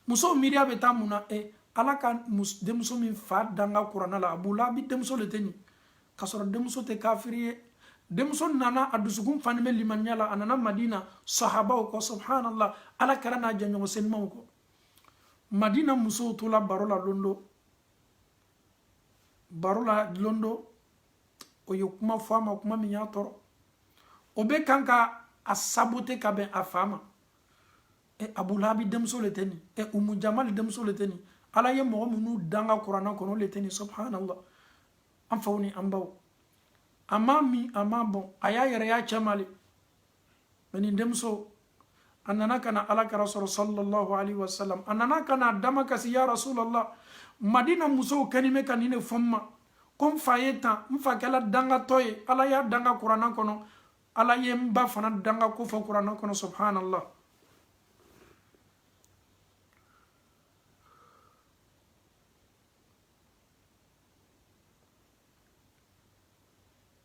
musow miiriya bɛ taa mun na e ala ka denmuso min fa danga kuranna la abulahabi denmuso le tɛ nin k'a sɔrɔ denmuso tɛ kafiri ye denmuso nana a dusukun fani bɛ limaniya la a nana madina sahabaw kɔ subhanallah ala kira n'a jɛɲɔgɔn senimaw kɔ madina musow tola baro la don dɔ baro la don dɔ o ye kuma fɔ a ma kuma min y'a tɔɔrɔ o bɛ kan ka a sabote ka bɛn a fa ma e abulahabi denmuso le tɛ nin e umu jamali denmuso le tɛ nin ala ye mɔgɔ minnu danga kuranna kɔnɔ o le tɛ nin subhanallah an faw ni an baw a m'a min a m'a bɔn a y'a yɛrɛ y'a cɛ ma le mɛ nin denmuso a nana ka na ala kira sɔrɔ sallallahu alaihi wasallam a nana ka na a da makasi ya rasulallah madina musow kɛni bɛ ka nin de fɔ n ma ko n fa ye tan n fa kɛla dangatɔ ye ala y'a danga kuranna kɔnɔ ala ye n ba fana danga k'o fɔ kuranna kɔnɔ subhanallah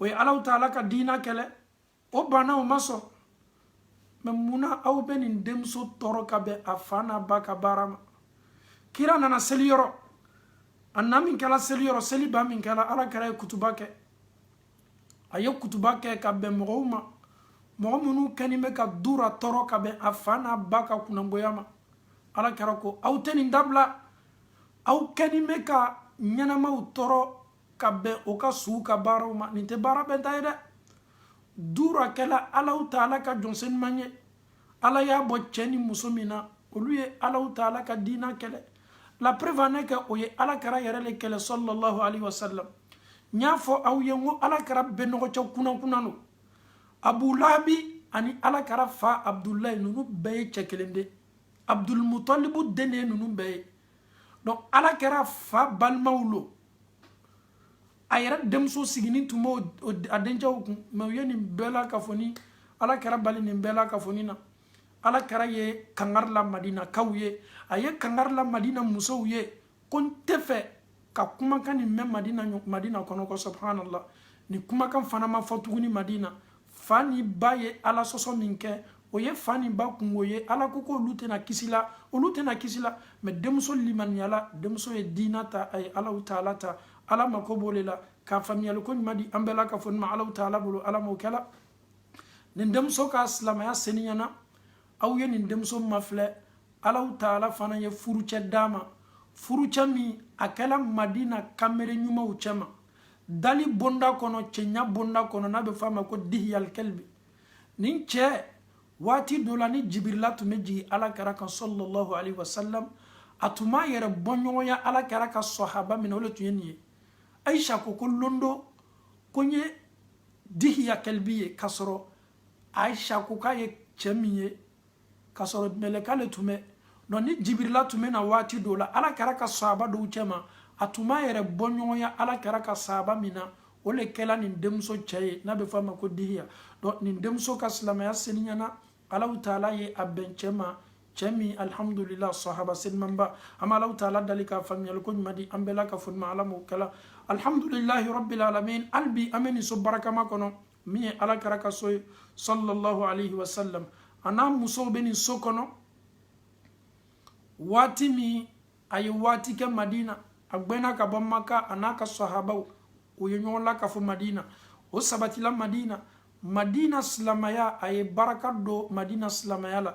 o ye allahu taala ka diina kɛlɛ o banna o ma sɔn mɛ munna aw bɛ nin denmuso tɔɔrɔ ka bɛn a fa n'a ba ka baara ma kira nana seli yɔrɔ a na min kɛra seli yɔrɔ seli ban min kɛra ala kira ye kutuba kɛ a ye kutuba kɛ ka bɛn mɔgɔw ma mɔgɔ minnu kɛni bɛ ka dura tɔɔrɔ ka bɛn a fa n'a ba ka kunnangoya ma ala kira ko aw tɛ nin dabila aw kɛni bɛ ka ɲɛnamaw tɔɔrɔ ka bɛn o ka suw ka baaraw ma nin tɛ baara bɛnta ye dɛ dura kɛla alaw taala ka jɔn seniman ye ala y'a bɔ cɛ ni muso min na olu ye alaw taala ka diina kɛlɛ la preuve en est que o ye ala kɛra yɛrɛ de kɛlɛ sallallahu alaihi wasallam n y'a fɔ aw ye n ko ala kɛra benɔgɔcɛ kunankunan lo abu lahabi ani ala kɛra fa abudulayi ninnu bɛɛ ye cɛ kelen de abudulmutalibu den de ye ninnu bɛɛ ye donc ala kɛra fa balimaw lo a yɛrɛ denmuso siginin tun b'o a dencɛw kun mɛ u ye nin bɛɛ lakafonin ala kɛra bali nin bɛɛ lakafonin na ala kɛra ye kangari la madinakaw ye a ye kangari la madina musow ye ko n tɛ fɛ ka kumakan nin mɛn madina madina kɔnɔ ko subhanallah nin kumakan fana ma fɔ tuguni madina fa ni ba ye ala sɔsɔ min kɛ o ye fa ni ba kunko ye ala ko ko olu tɛna kisi la olu tɛna kisi la mɛ denmuso limaniyala denmuso ye diina ta a ye alaw taala ta ala mako b'o le la ka faamuyali ko ɲuman di an bɛɛ lakafonin ma alaw taala bolo ala m'o kɛla nin denmuso ka silamaya seniyana aw ye nin denmuso mafilɛ alaw taala fana ye furucɛ d'a ma furucɛ min a kɛla madina kamere ɲumanw cɛma dali bonda kɔnɔ cɛɲa bonda kɔnɔ n'a bɛ fɔ a ma ko dihiyalikɛlibi nin cɛ waati dɔ la ni jibirila tun bɛ jigin ala kɛra kan sɔlɔlɔhu alayhi wa salam a tun b'a yɛrɛ bɔɲɔgɔnya ala kɛra ka sɔhaba min na o de tun ye nin ye ayisa ko ko lon dɔ ko n ye dihiya kɛlibi ye k'a sɔrɔ ayisa ko k'a ye cɛ min ye k'a sɔrɔ mɛlɛka le tun bɛ nɔ ni jibirila tun bɛ na waati dɔw la ala kɛra ka saaba dɔw cɛ ma a tun b'a yɛrɛ bɔɲɔgɔnya ala kɛra ka saaba min na o le kɛla nin denmuso cɛ ye n'a bɛ fɔ a ma ko dihiya donc nin denmuso ka silamaya seniyana alaw taala ye a bɛn cɛ ma cɛ min alihamudulila sahaba senimanba an bɛ alaw taala dali ka faamuyali ko ɲuman di an bɛɛ lakafonin ma ala m'o kɛla alihamudulilahi rabil alamin hali bi an bɛ nin so barakama kɔnɔ min ye ala kɛra ka so ye sallallahu alaihi wasallam a n'a musow bɛ nin so kɔnɔ waati min a ye waati kɛ madina a gbɛnna ka bɔ maka a n'a ka sahabaw u ye ɲɔgɔn lakafo madina o sabatila madina madina silamaya a ye baraka don madina silamaya la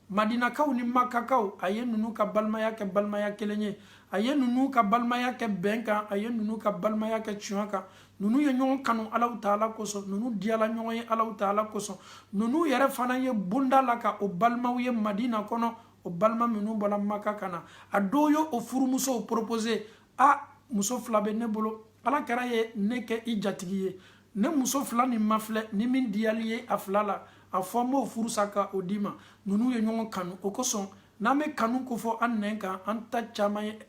madinakaw ni makakaw a ye ninnu ka balimaya kɛ balimaya kelen ye a ye ninnu ka balimaya kɛ bɛn kan a ye ninnu ka balimaya kɛ tiɲɛ kan ninnu ye ɲɔgɔn kanu alaw taala kosɔn ninnu diyala ɲɔgɔn ye alaw taala kosɔn ninnu yɛrɛ fana ye bonda laka o balimaw ye madina kɔnɔ o balima minnu bɔla maka ka na a dɔw ye o furumusow proposé a muso fila bɛ ne bolo ala kira ye ne kɛ i jatigi ye ne muso fila nin mafilɛ ni min diyal'i ye a fila la a fɔ n b'o furusa ka o d'i ma ninnu ye ɲɔgɔn kanu o kosɔn n'an bɛ kanu ko fɔ an nɛn kan an ta caman ye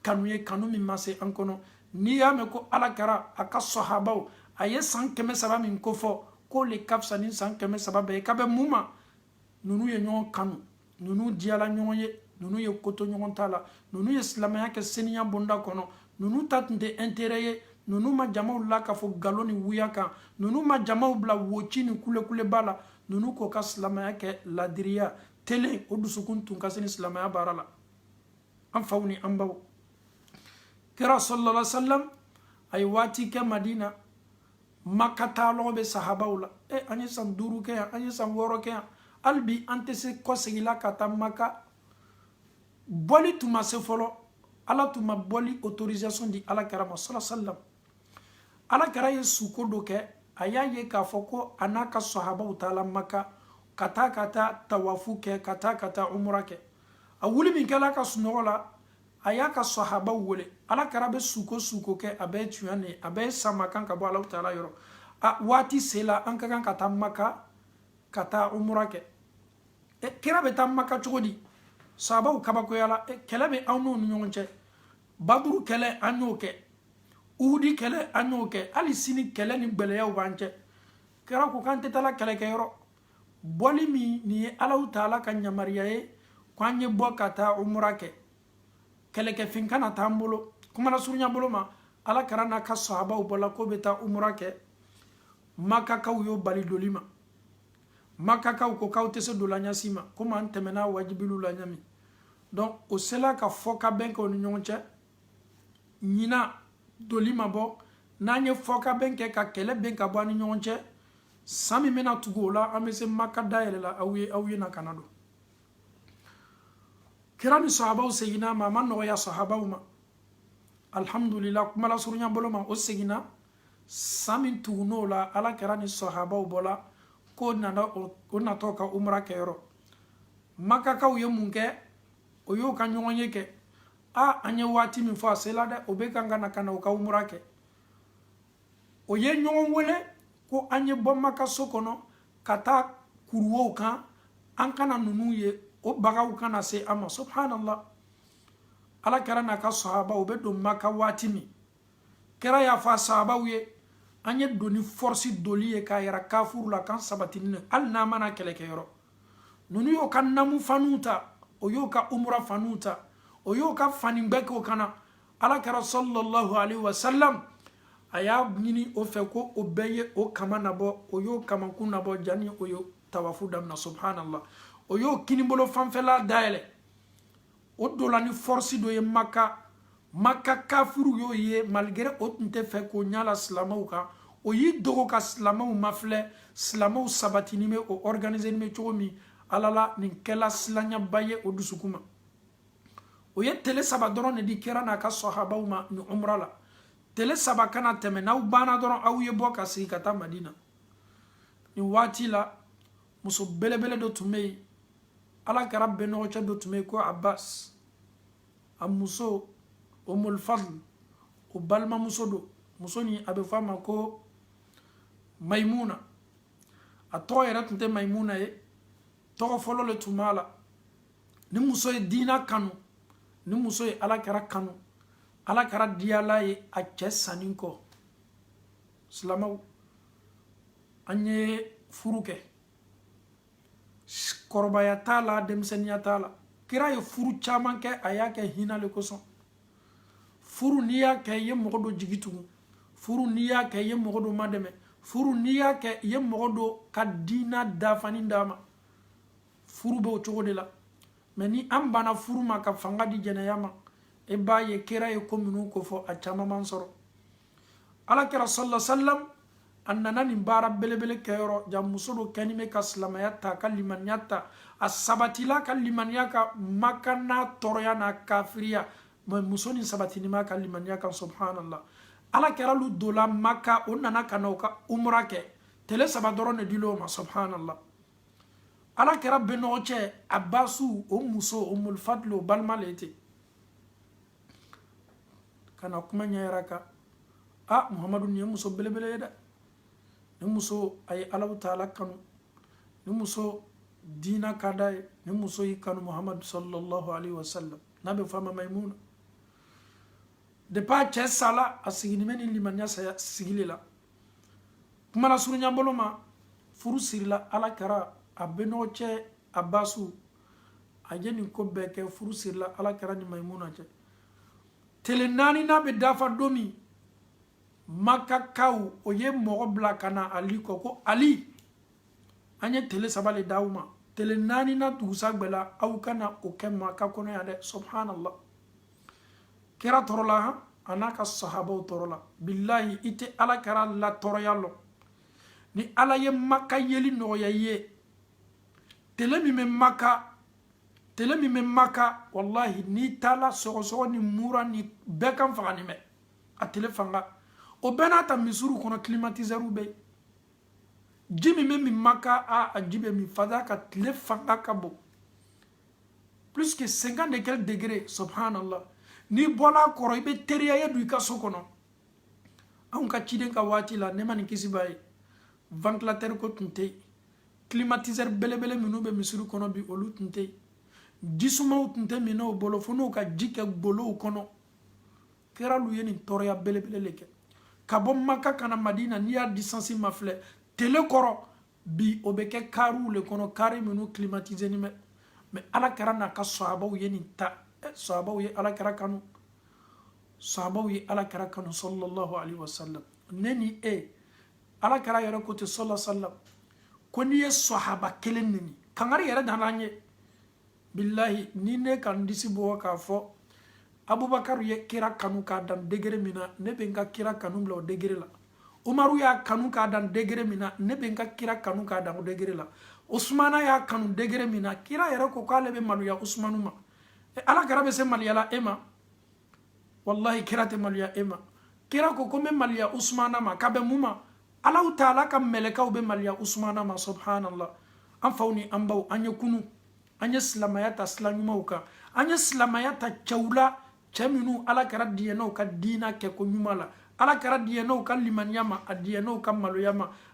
kanu ye kanu min ma se an kɔnɔ n'i y'a mɛn ko ala kira a ka sɔhabaw a ye san kɛmɛ saba min ko fɔ k'o le ka fisa ni san kɛmɛ saba bɛɛ ye k'a bɛn mun ma ninnu ye ɲɔgɔn kanu ninnu diyala ɲɔgɔn ye ninnu ye koto ɲɔgɔn ta la ninnu ye silamɛya kɛ seniya bonda kɔnɔ ninnu ta tun tɛ intérêt ye ninnu ma jamaw lakafo galo ni wuya kan ninnu ma jamaw bila woci ni kulekuleba la ninnu k'o ka silamɛya kɛ ladiriya telen o dusukun tun ka seni silamɛya baara la an faw ni an baw kira sallallahu alaihi wasallam a ye waati kɛ madina maka taalɔgɔ bɛ sahabaw la e an ye san duuru kɛ yan an ye san wɔɔrɔ kɛ yan hali bi an tɛ se kɔsegi la ka taa maka bɔli tun ma se fɔlɔ ala tun ma bɔli autorisation di ala kira ma sala salam ala kira ye suko dɔ kɛ a y'a ye k'a fɔ ko a n'a ka sahabaw taala maka ka taa ka taa tawafu kɛ ka taa ka taa umura kɛ a wuli min kɛl'a ka sunɔgɔ la a y'a ka sahabaw wele ala kira bɛ suko o suko kɛ a bɛ tuɲa ni a bɛ sama kan ka bɔ alahu taala yɔrɔ a waati sela an ka kan ka taa maka ka taa umura kɛ e, kira bɛ taa maka cogo di sahabaw kabakoyala e, kɛlɛ bɛ anw n'u ni ɲɔgɔn cɛ baduru kɛlɛ an y'o kɛ uhudi kɛlɛ an y'o kɛ hali sini kɛlɛ ni gɛlɛyaw b'an cɛ kira ko k'an tɛ taa la kɛlɛkɛyɔrɔ bɔli min nin ye alahu taala ka yamariya ye ko an ye bɔ ka taa umura kɛ kɛlɛkɛfɛn kana t'an bolo kumana surunya bolo ma ala kira n'a ka sahabaw bɔla k'o bɛ taa umura kɛ makakaw y'o bali doli ma makakaw ko k'aw tɛ se dola ɲa si ma komi an tɛmɛna wajuliw la ɲa min donc o sela ka fɔkabɛn kɛ o ni ɲɔgɔn cɛ ɲina doli ma bɛn an ye fɔkabɛn kɛ ka kɛlɛ ban ka bɔ an ni ɲɔgɔn cɛ san min bɛna tugu o la an bɛ se maka dayɛlɛ la aw ye aw ye na ka na don kira ni sahabaw seginna ma a ma nɔgɔya sahabaw ma alhamdulila kumalasurunya bolo ma o seginna san min tugun'o la ala kira ni sahabaw bɔla k'o nana o natɔ ka umra kɛyɔrɔ makakaw ye mun kɛ o y'o ka ɲɔgɔnye kɛ a an ye waati min fɔ a sela dɛ o bɛ kan ka na ka na o ka umra kɛ o ye ɲɔgɔn wele ko an ye bɔ maka so kɔnɔ ka taa kuruwow kan an kana ninnu ye o bagaw kana se an ma subhanallah ala kira n'a ka sahaba u bɛ don maka waati min kira y'a fɔ a sahabaw ye an ye don ni force doli ye k'a yira kafiriw la k'an sabatini na hali n'an ma na kɛlɛkɛyɔrɔ ninnu y'o ka namu faniw ta o y'o ka umura faniw ta o y'o ka fanigbɛ k'o kan na ala kira sallallahu alaihi wasallam a y'a ɲini o fɛ ko o bɛɛ ye o kaman nabɔ o y'o kamankun nabɔ jani o ye tawafu damina subhanallah o y'o kinibolo fanfɛla dayɛlɛ o dola ni force dɔ ye maka maka kafiru y'o ye malgré o tun tɛ fɛ k'o ɲa la silamaw kan o y'i dogo ka silamaw mafilɛ silamaw sabatinin bɛ o organisénin bɛ cogo min ala la nin kɛla silanyaba ye o dusukun ma o ye tele saba dɔrɔn ne di kira n'a ka sɔhabaw ma ni umra la tele saba kana tɛmɛ n'aw banna dɔrɔn aw ye bɔ ka segi ka taa madina nin waati la muso belebele dɔ tun bɛ yen ala kira bɛnɔgɔcɛ dɔ tun bɛ yen ko abbas a muso umul fadl o balimamuso don muso nin a bɛ fɔ a ma ko mayimuna a tɔgɔ yɛrɛ tun tɛ mayimuna ye tɔgɔ fɔlɔ le tun b'a la nin muso ye diina kanu nin muso ye ala kira kanu ala kira diyal'a ye a cɛ sanin kɔ silamaw an ye furu kɛ kɔrɔbaya t'a la denmisɛnninya t'a la kira ye furu caman kɛ a y'a kɛ hina le kosɔn furu n'i y'a kɛ i ye mɔgɔ dɔ jigi tugu furu n'i y'a kɛ i ye mɔgɔ dɔ madɛmɛ furu n'i y'a kɛ i ye mɔgɔ dɔ ka diina dafanin d'a ma furu bɛ o cogo de la mais ni an banna furu ma ka fanga di jɛnɛya ma e b'a ye kira ye ko minnu ko fɔ a caman man sɔrɔ ala kira sala salam a nana nin baara belebele kɛyɔrɔ jaa muso dɔ kɛnin bɛ ka silamaya ta ka limaniya ta a sabatila ka limaniya kan maka n'a tɔɔrɔya n'a kafiriya mais muso nin sabatinin b'a ka limaniya kan subhanallah ala kira lu dola maka o nana ka na o ka umra kɛ tele saba dɔrɔn de dil'o ma subhanallah ala kira bɛnɔgɔcɛ abasu o muso umul fadl o balima le ye ten ka na kuma ɲɛyira kan a muhamadu nin ye muso belebele ye dɛ nin muso a ye allahu taala kanu nin muso diina ka d'a ye nin muso y'i kanu muhamadu sallallahu alaihi wasallam n'a bɛ f'a ma maimuna depuis a cɛ sala a siginin bɛ ni limaniya sigili la kuma nasurunya bolo ma furu sirila ala kira a benɔgɔcɛ abasu a ye nin ko bɛɛ kɛ furu sirila ala kira ni mayimuna cɛ tele naaninan bɛ dafa don min makakaw o ye mɔgɔ bila ka na ali kɔ ko ali an ye tele saba le d'aw ma tele naaninan dugusagbɛ la aw kana o kɛ maka kɔnɔ yan dɛ subhanallah kira tɔɔrɔla han a n'a ka sahabaw tɔɔrɔla bilahi i tɛ ala kira la tɔɔrɔya lɔn ni ala ye maka yeli nɔgɔya i ye tele min bɛ maka tele min bɛ maka walahi n'i taala sɔgɔsɔgɔ ni mura ni bɛɛ kan faganin bɛ a tele fanga o bɛɛ n'a ta misiriw kɔnɔ climatisɛriw bɛ yen ji min bɛ min maka a a ji bɛ min parce que tile fanga ka bon plus que 50 et quelques degrés subhanallah n'i bɔla kɔrɔ i bɛ teriya i ye don i ka so kɔnɔ anw ka ciden ka waati la ne ma nin kisi b'a ye ventilateur ko tun tɛ yen climatiseur belebele minnu bɛ misiri kɔnɔ bi olu tun tɛ yen jisumaw tun tɛ minɛw bolo fo n'u ka ji kɛ golow kɔnɔ kira lu ye nin tɔɔrɔya belebele de kɛ ka bɔ maka ka na madina n'i y'a distance mafilɛ tele kɔrɔ bi o bɛ kɛ kariw le kɔnɔ kari minnu climatisenin bɛ mais ala kira n'a ka sahabaw ye nin ta eh, sahabaw ye ala kira kanu sahabaw ye ala kira kanu sallallahu alaihi wasallam ne ni e ala kira yɛrɛ ko ten sallallahu sallam ko n'i ye sɔhaba kelen nɛni kangari yɛrɛ danna an ye bilahi ni ne ka n disi bugɔ k'a fɔ abubakar ye kira kanu k'a dan degere min na ne bɛ n ka kira kanu bila o degere la umaru y'a kanu k'a dan degere min na ne bɛ n ka kira kanu k'a dan o degere la usumana y'a kanu degere min na kira yɛrɛ ko k'ale bɛ maloya usumanu ma ala kira bɛ se maloya la e ma walahi kira tɛ maloya e ma kira ko ko n bɛ maloya usumana ma ka bɛn mun ma alahu taala ka mɛlɛkaw bɛ maloya usumana ma subhanallah an faw ni an baw an ye kunun an ye silamaya ta sila ɲumanw kan an ye silamaya ta cɛw la cɛ minnu ala kira diɲɛna u ka diina kɛko ɲuman la ala kira diɲɛna u ka limaniya ma a diɲɛna u ka maloya ma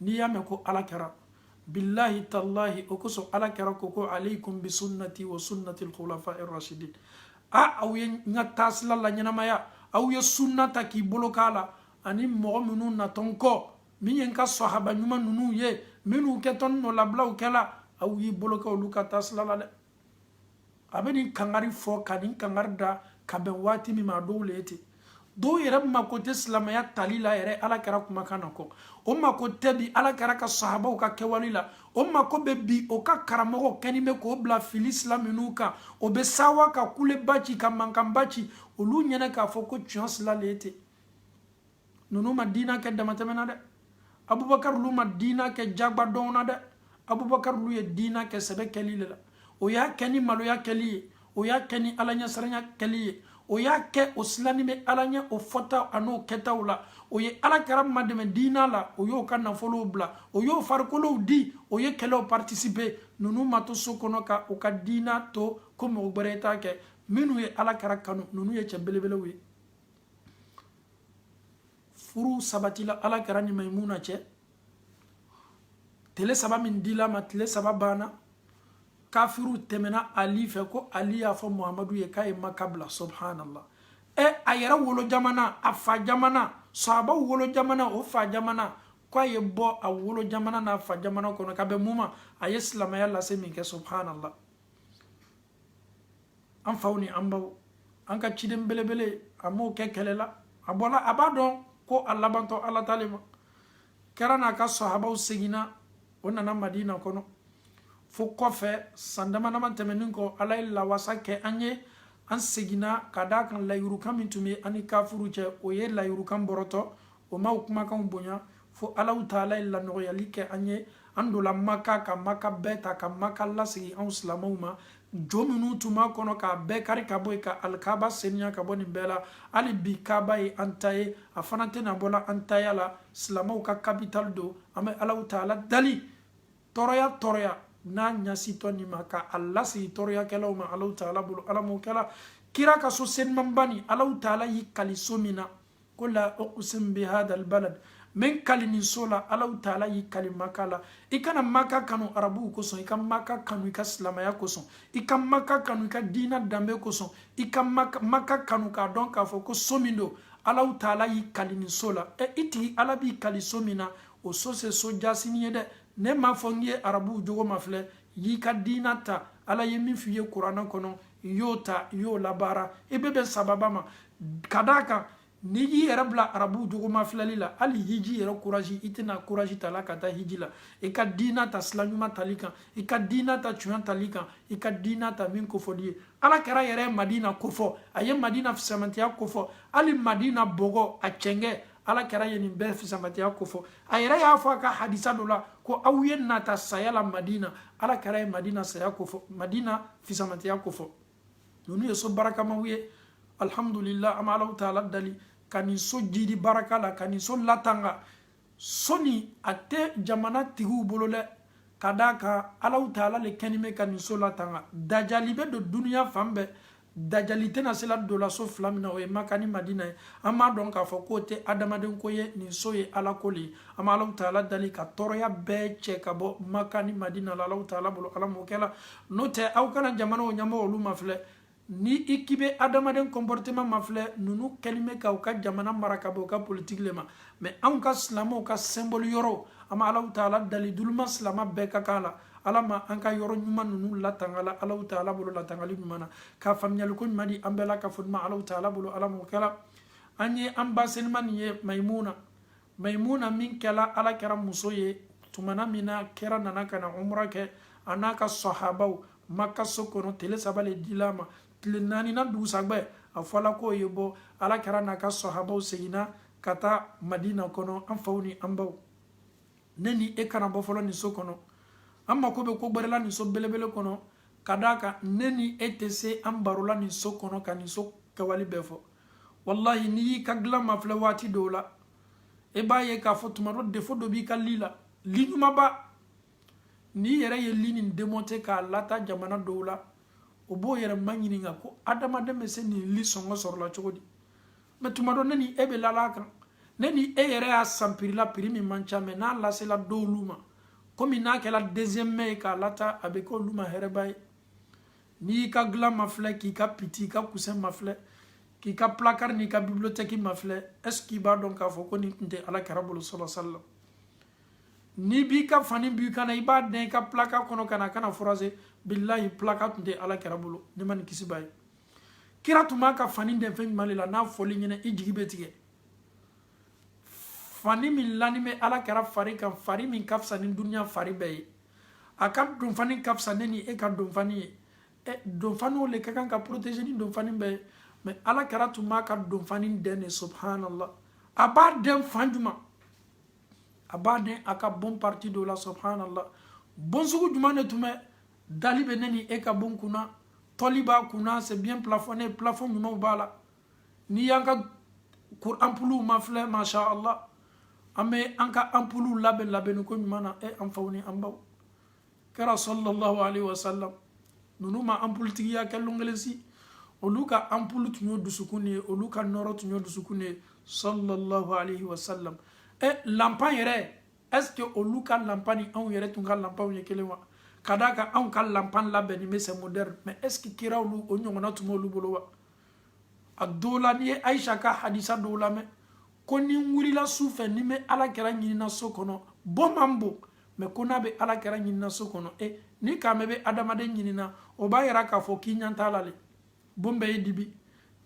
n'i y'a mɛn ko ala kira bilahi talahi o kosɔn ala kira ko ko aleikum bisunnati wa sunnati lkhulafa irrasidin a aw ye n ka taasila laɲɛnamaya aw ye sunna ta k'i bolo k'a la ani mɔgɔ minnu natɔ n kɔ min ye n ka sɔhaba ɲuman ninnu ye minnu kɛtɔ n nɔlabilaw kɛla aw y'i bolo kɛ olu ka taasila la dɛ a bɛ nin kangari fɔ ka nin kangari da ka bɛn waati min ma a dɔw le ye ten dɔw yɛrɛ mako tɛ silamaya tali la yɛrɛ ala kira kumakan na kɔ o mako tɛ bi ala kira ka sahabaw ka kɛwale la o mako bɛ bi o ka karamɔgɔw kɛnin bɛ k'o bila fili sila minnu kan o bɛ sawa ka kuleba ci ka mankanba ci olu ɲɛna k'a fɔ ko tiɲɛ sila le ye ten ninnu ma diina kɛ damatɛmɛ na dɛ abubakar lu ma diina kɛ jagba dɔn na dɛ abubakar lu ye diina kɛ sɛbɛ kɛli de la o y'a kɛ ni maloya kɛli ye o y'a kɛ ni ala ɲɛsiranya kɛli ye o y'a kɛ o silanni bɛ ala ɲɛ o fɔtaw an'o kɛtaw la o ye ala kira madɛmɛ diina la o y'o ka nafolow bila o y'o farikolow di o ye kɛlɛw partisipe ninnu ma to so kɔnɔ ka u ka diina to ko mɔgɔ gbɛrɛ t'a kɛ minnu ye ala kira kanu ninnu ye cɛ belebelew ye furu sabatila ala kira ni maimuna cɛ tele saba min dil'a ma tile saba banna kafiriw tɛmɛna ali fɛ ko ali y'a fɔ muhamadu ye k'a ye maka bila subhanallah ɛ a yɛrɛ wolo jamana a fa jamana sahabaw wolo jamana o fa jamana ko a ye bɔ a wolo jamana n'a fa jamana kɔnɔ ka bɛn mun ma a ye silamaya lase min kɛ subhanallah an faw ni an baw an ka ciden belebele a m'o kɛ kɛlɛ la a bɔla a b'a dɔn ko a labantɔ ala ta le ma kira n'a ka sahabaw seginna o nana madina kɔnɔ fo kɔfɛ san dama dama tɛmɛnin kɔ ala ye lawasa kɛ an ye an seginna ka d'a kan layirukan min tun bɛ an ni kafiriw cɛ o ye layirukan bɔrɔtɔ o m'aw kumakanw bonya fo alahu taala ye lanɔgɔyali kɛ an ye an dola maka ka maka bɛɛ ta ka maka lasegin anw silamɛw ma jo minnu tun b'a kɔnɔ k'a bɛɛ kari ka bɔ yen ka alikaba seniya ka bɔ nin bɛɛ la hali bi kaba ye an ta ye a fana tɛna bɔla an taya la silamɛw ka kapitali don an bɛ alahu taala dali tɔɔrɔya tɔɔrɔya n'a ɲasitɔ nin ma ka a lasegin tɔɔrɔyakɛlaw ma alahu taala bolo ala m'o kɛla kira ka so senimaba nin alahu taala y'i kali so min na ko la uqsim bi hada albalad n bɛ n kali nin so la alahu taala y'i kali maka la i kana maka kanu arabuw kosɔn i ka maka kanu i ka silamaya kosɔn i ka maka kanu i ka diina danbe kosɔn i ka maka kanu k'a dɔn k'a fɔ ko so min don alahu taala y'i kali nin so la ɛ i tigi ala b'i kali so min na o so tɛ so jaasinin ye dɛ ne m'a fɔ n ye arabuw jogo mafilɛ y'i ka diina ta ala ye min f'i ye kuranɛ kɔnɔ n'i y'o ta n'i y'o labaara i bɛ bɛn sababa ma ka d'a kan n'i y'i yɛrɛ bila arabuw jogo mafilɛli la hali hiji yɛrɛ kurazi i tɛna kurazi ta la ka taa hiji la i ka diina ta sila ɲuman tali kan i ka diina ta tiɲɛ tali kan i ka diina ta min kofɔli ye ala kira yɛrɛ ye madina kofɔ a ye madina fisamatiya kofɔ hali madina bɔgɔ a cɛnkɛ ala kira ye nin bɛɛ fisamatiya kofɔ a yɛrɛ y'a fɔ a ka hadisa dɔ la ko aw ye nata saya la madina ala kira ye madina saya kofɔ madina fisamantiya kofɔ ninnu ye so barakamaw ye alihamudulila an bɛ alaw taala dali ka nin so jidi baraka la ka nin so latanga so nin a tɛ jamana tigiw bolo dɛ ka d'a kan alaw taala le kɛnin bɛ ka nin so latanga dajali bɛ don duniya fan bɛɛ dajali tɛna sela donna so fila min na o ye maka ni madina ye an b'a dɔn k'a fɔ k'o tɛ adamaden ko ye nin so ye ala ko le ye an bɛ alaw taala dali ka tɔɔrɔya bɛɛ cɛ ka bɔ maka ni madina la alaw taala bolo ala m'o kɛla n'o tɛ aw kana jamanaw ɲɛmɔgɔ olu mafilɛ ni i k'i bɛ adamaden comportement mafilɛ ninnu kɛlen bɛ ka u ka jamana mara ka bɔ u ka politiki le ma mais anw ka silamaw ka symbole yɔrɔw an bɛ alaw taala dali duluma silama bɛɛ ka k'a la ala ma an ka yɔrɔ ɲuman ninnu latanga la alaw taala bolo latangali ɲuman na ka faamuyaliko ɲuman di an bɛɛ la ka fɔ ɲuman alaw taala bolo ala m'o kɛra an ye an ba senima nin ye mayimuna maimuna min kɛla ala kira muso ye tumana min na kira nana ka na umra kɛ a n'a ka sahabaw maka so kɔnɔ tele saba le dila a ma tile naaninan dugusagbɛ a fɔla k'u ye bɔ ala kira n'a ka sahabaw seginna ka taa madina kɔnɔ an faw ni an baw ne ni e kana bɔ fɔlɔ nin so kɔnɔ an mako bɛ ko gbɛrɛ la nin so belebele kɔnɔ ka d'a kan ne ni e tɛ se an barola nin so kɔnɔ ka nin so kɛwale bɛɛ fɔ walahi n'i y'i ka dilan mafilɛ waati dɔw la i b'a ye k'a fɔ tuma dɔ défaut dɔ b'i ka lit la lit ɲumanba n'i yɛrɛ ye lit nin démonter k'a lata jamana dɔw la o b'o yɛrɛ maɲininka ko adamaden bɛ se nin lit sɔngɔ sɔrɔla cogo di mais tuma dɔ ne ni e bɛ lala a kan ne ni e yɛrɛ y'a san prix la prix min man ca mais n'a lasela dɔwlu ma komi n'a kɛra deuxième main ye k'a lata a bɛ k'olu ma hɛrɛba ye n'i y'i ka dilan mafilɛ k'i ka piti i ka coussin mafilɛ k'i ka placard n'i ka bibliothèque mafilɛ est ce que i b'a dɔn k'a fɔ ko nin tun tɛ ala kira bolo sɔlɔ sallam n'i b'i ka fani bɔ i kan na i b'a dɛn i ka placard kɔnɔ kana a kana froisser bilahi placard tun tɛ ala kira bolo nɛɛma ni kisi b'a ye kira tun b'a ka fani dɛn fɛn jumɛn de la n'a fɔl'i ɲɛna i jigi bɛ tigɛ fani min lanin bɛ ala kira fari kan fari min ka fisa ni duniya fari bɛɛ ye a ka donfani ka fisa ne ni e ka donfani ye ɛ eh, donfaniw le ka kan ka protéger ni donfani bɛɛ ye mais ala kira tun b'a ka donfani dɛn de subhanallah a b'a dɛn fan jumɛn a b'a dɛn a ka bon partie dɔ la subhanallah bon sugu jumɛn de tun bɛ dalle bɛ ne ni e ka bon kunna tɔli b'a kunna c'est bien plafonné plafond ɲumanw b'a la n'i y'an ka anpuluw mafilɛ masha allah an bɛ an ka anpuluw labɛn labɛnni koɲuman na e an faw ni an baw kira sallallahu alaihi wasallam ninnu ma anpulutigiya kɛ longelesi olu ka anpulu tun ye dusukun de ye olu ka nɔrɔ tun ye dusukun de ye sallallahu alaihi wasallam e lanpan yɛrɛ est ce que olu ka lanpan ni anw yɛrɛ tun ka lanpanw ye kelen wa ka d'a kan anw ka lanpan labɛnni bɛ c'est moderne mais est ce que kira olu o ɲɔgɔnna tun b'olu bolo wa a dɔw la n'i ye ayisa ka hadisa dɔw lamɛn ko ni n wulila su fɛ ni n bɛ ala kira ɲinina so kɔnɔ bon man bon mɛ ko n'a bɛ ala kira ɲinina so kɔnɔ e ni k'a mɛ bɛ adamaden ɲinina o b'a yira k'a fɔ k'i ɲɛ t'a la le bon bɛɛ ye dibi n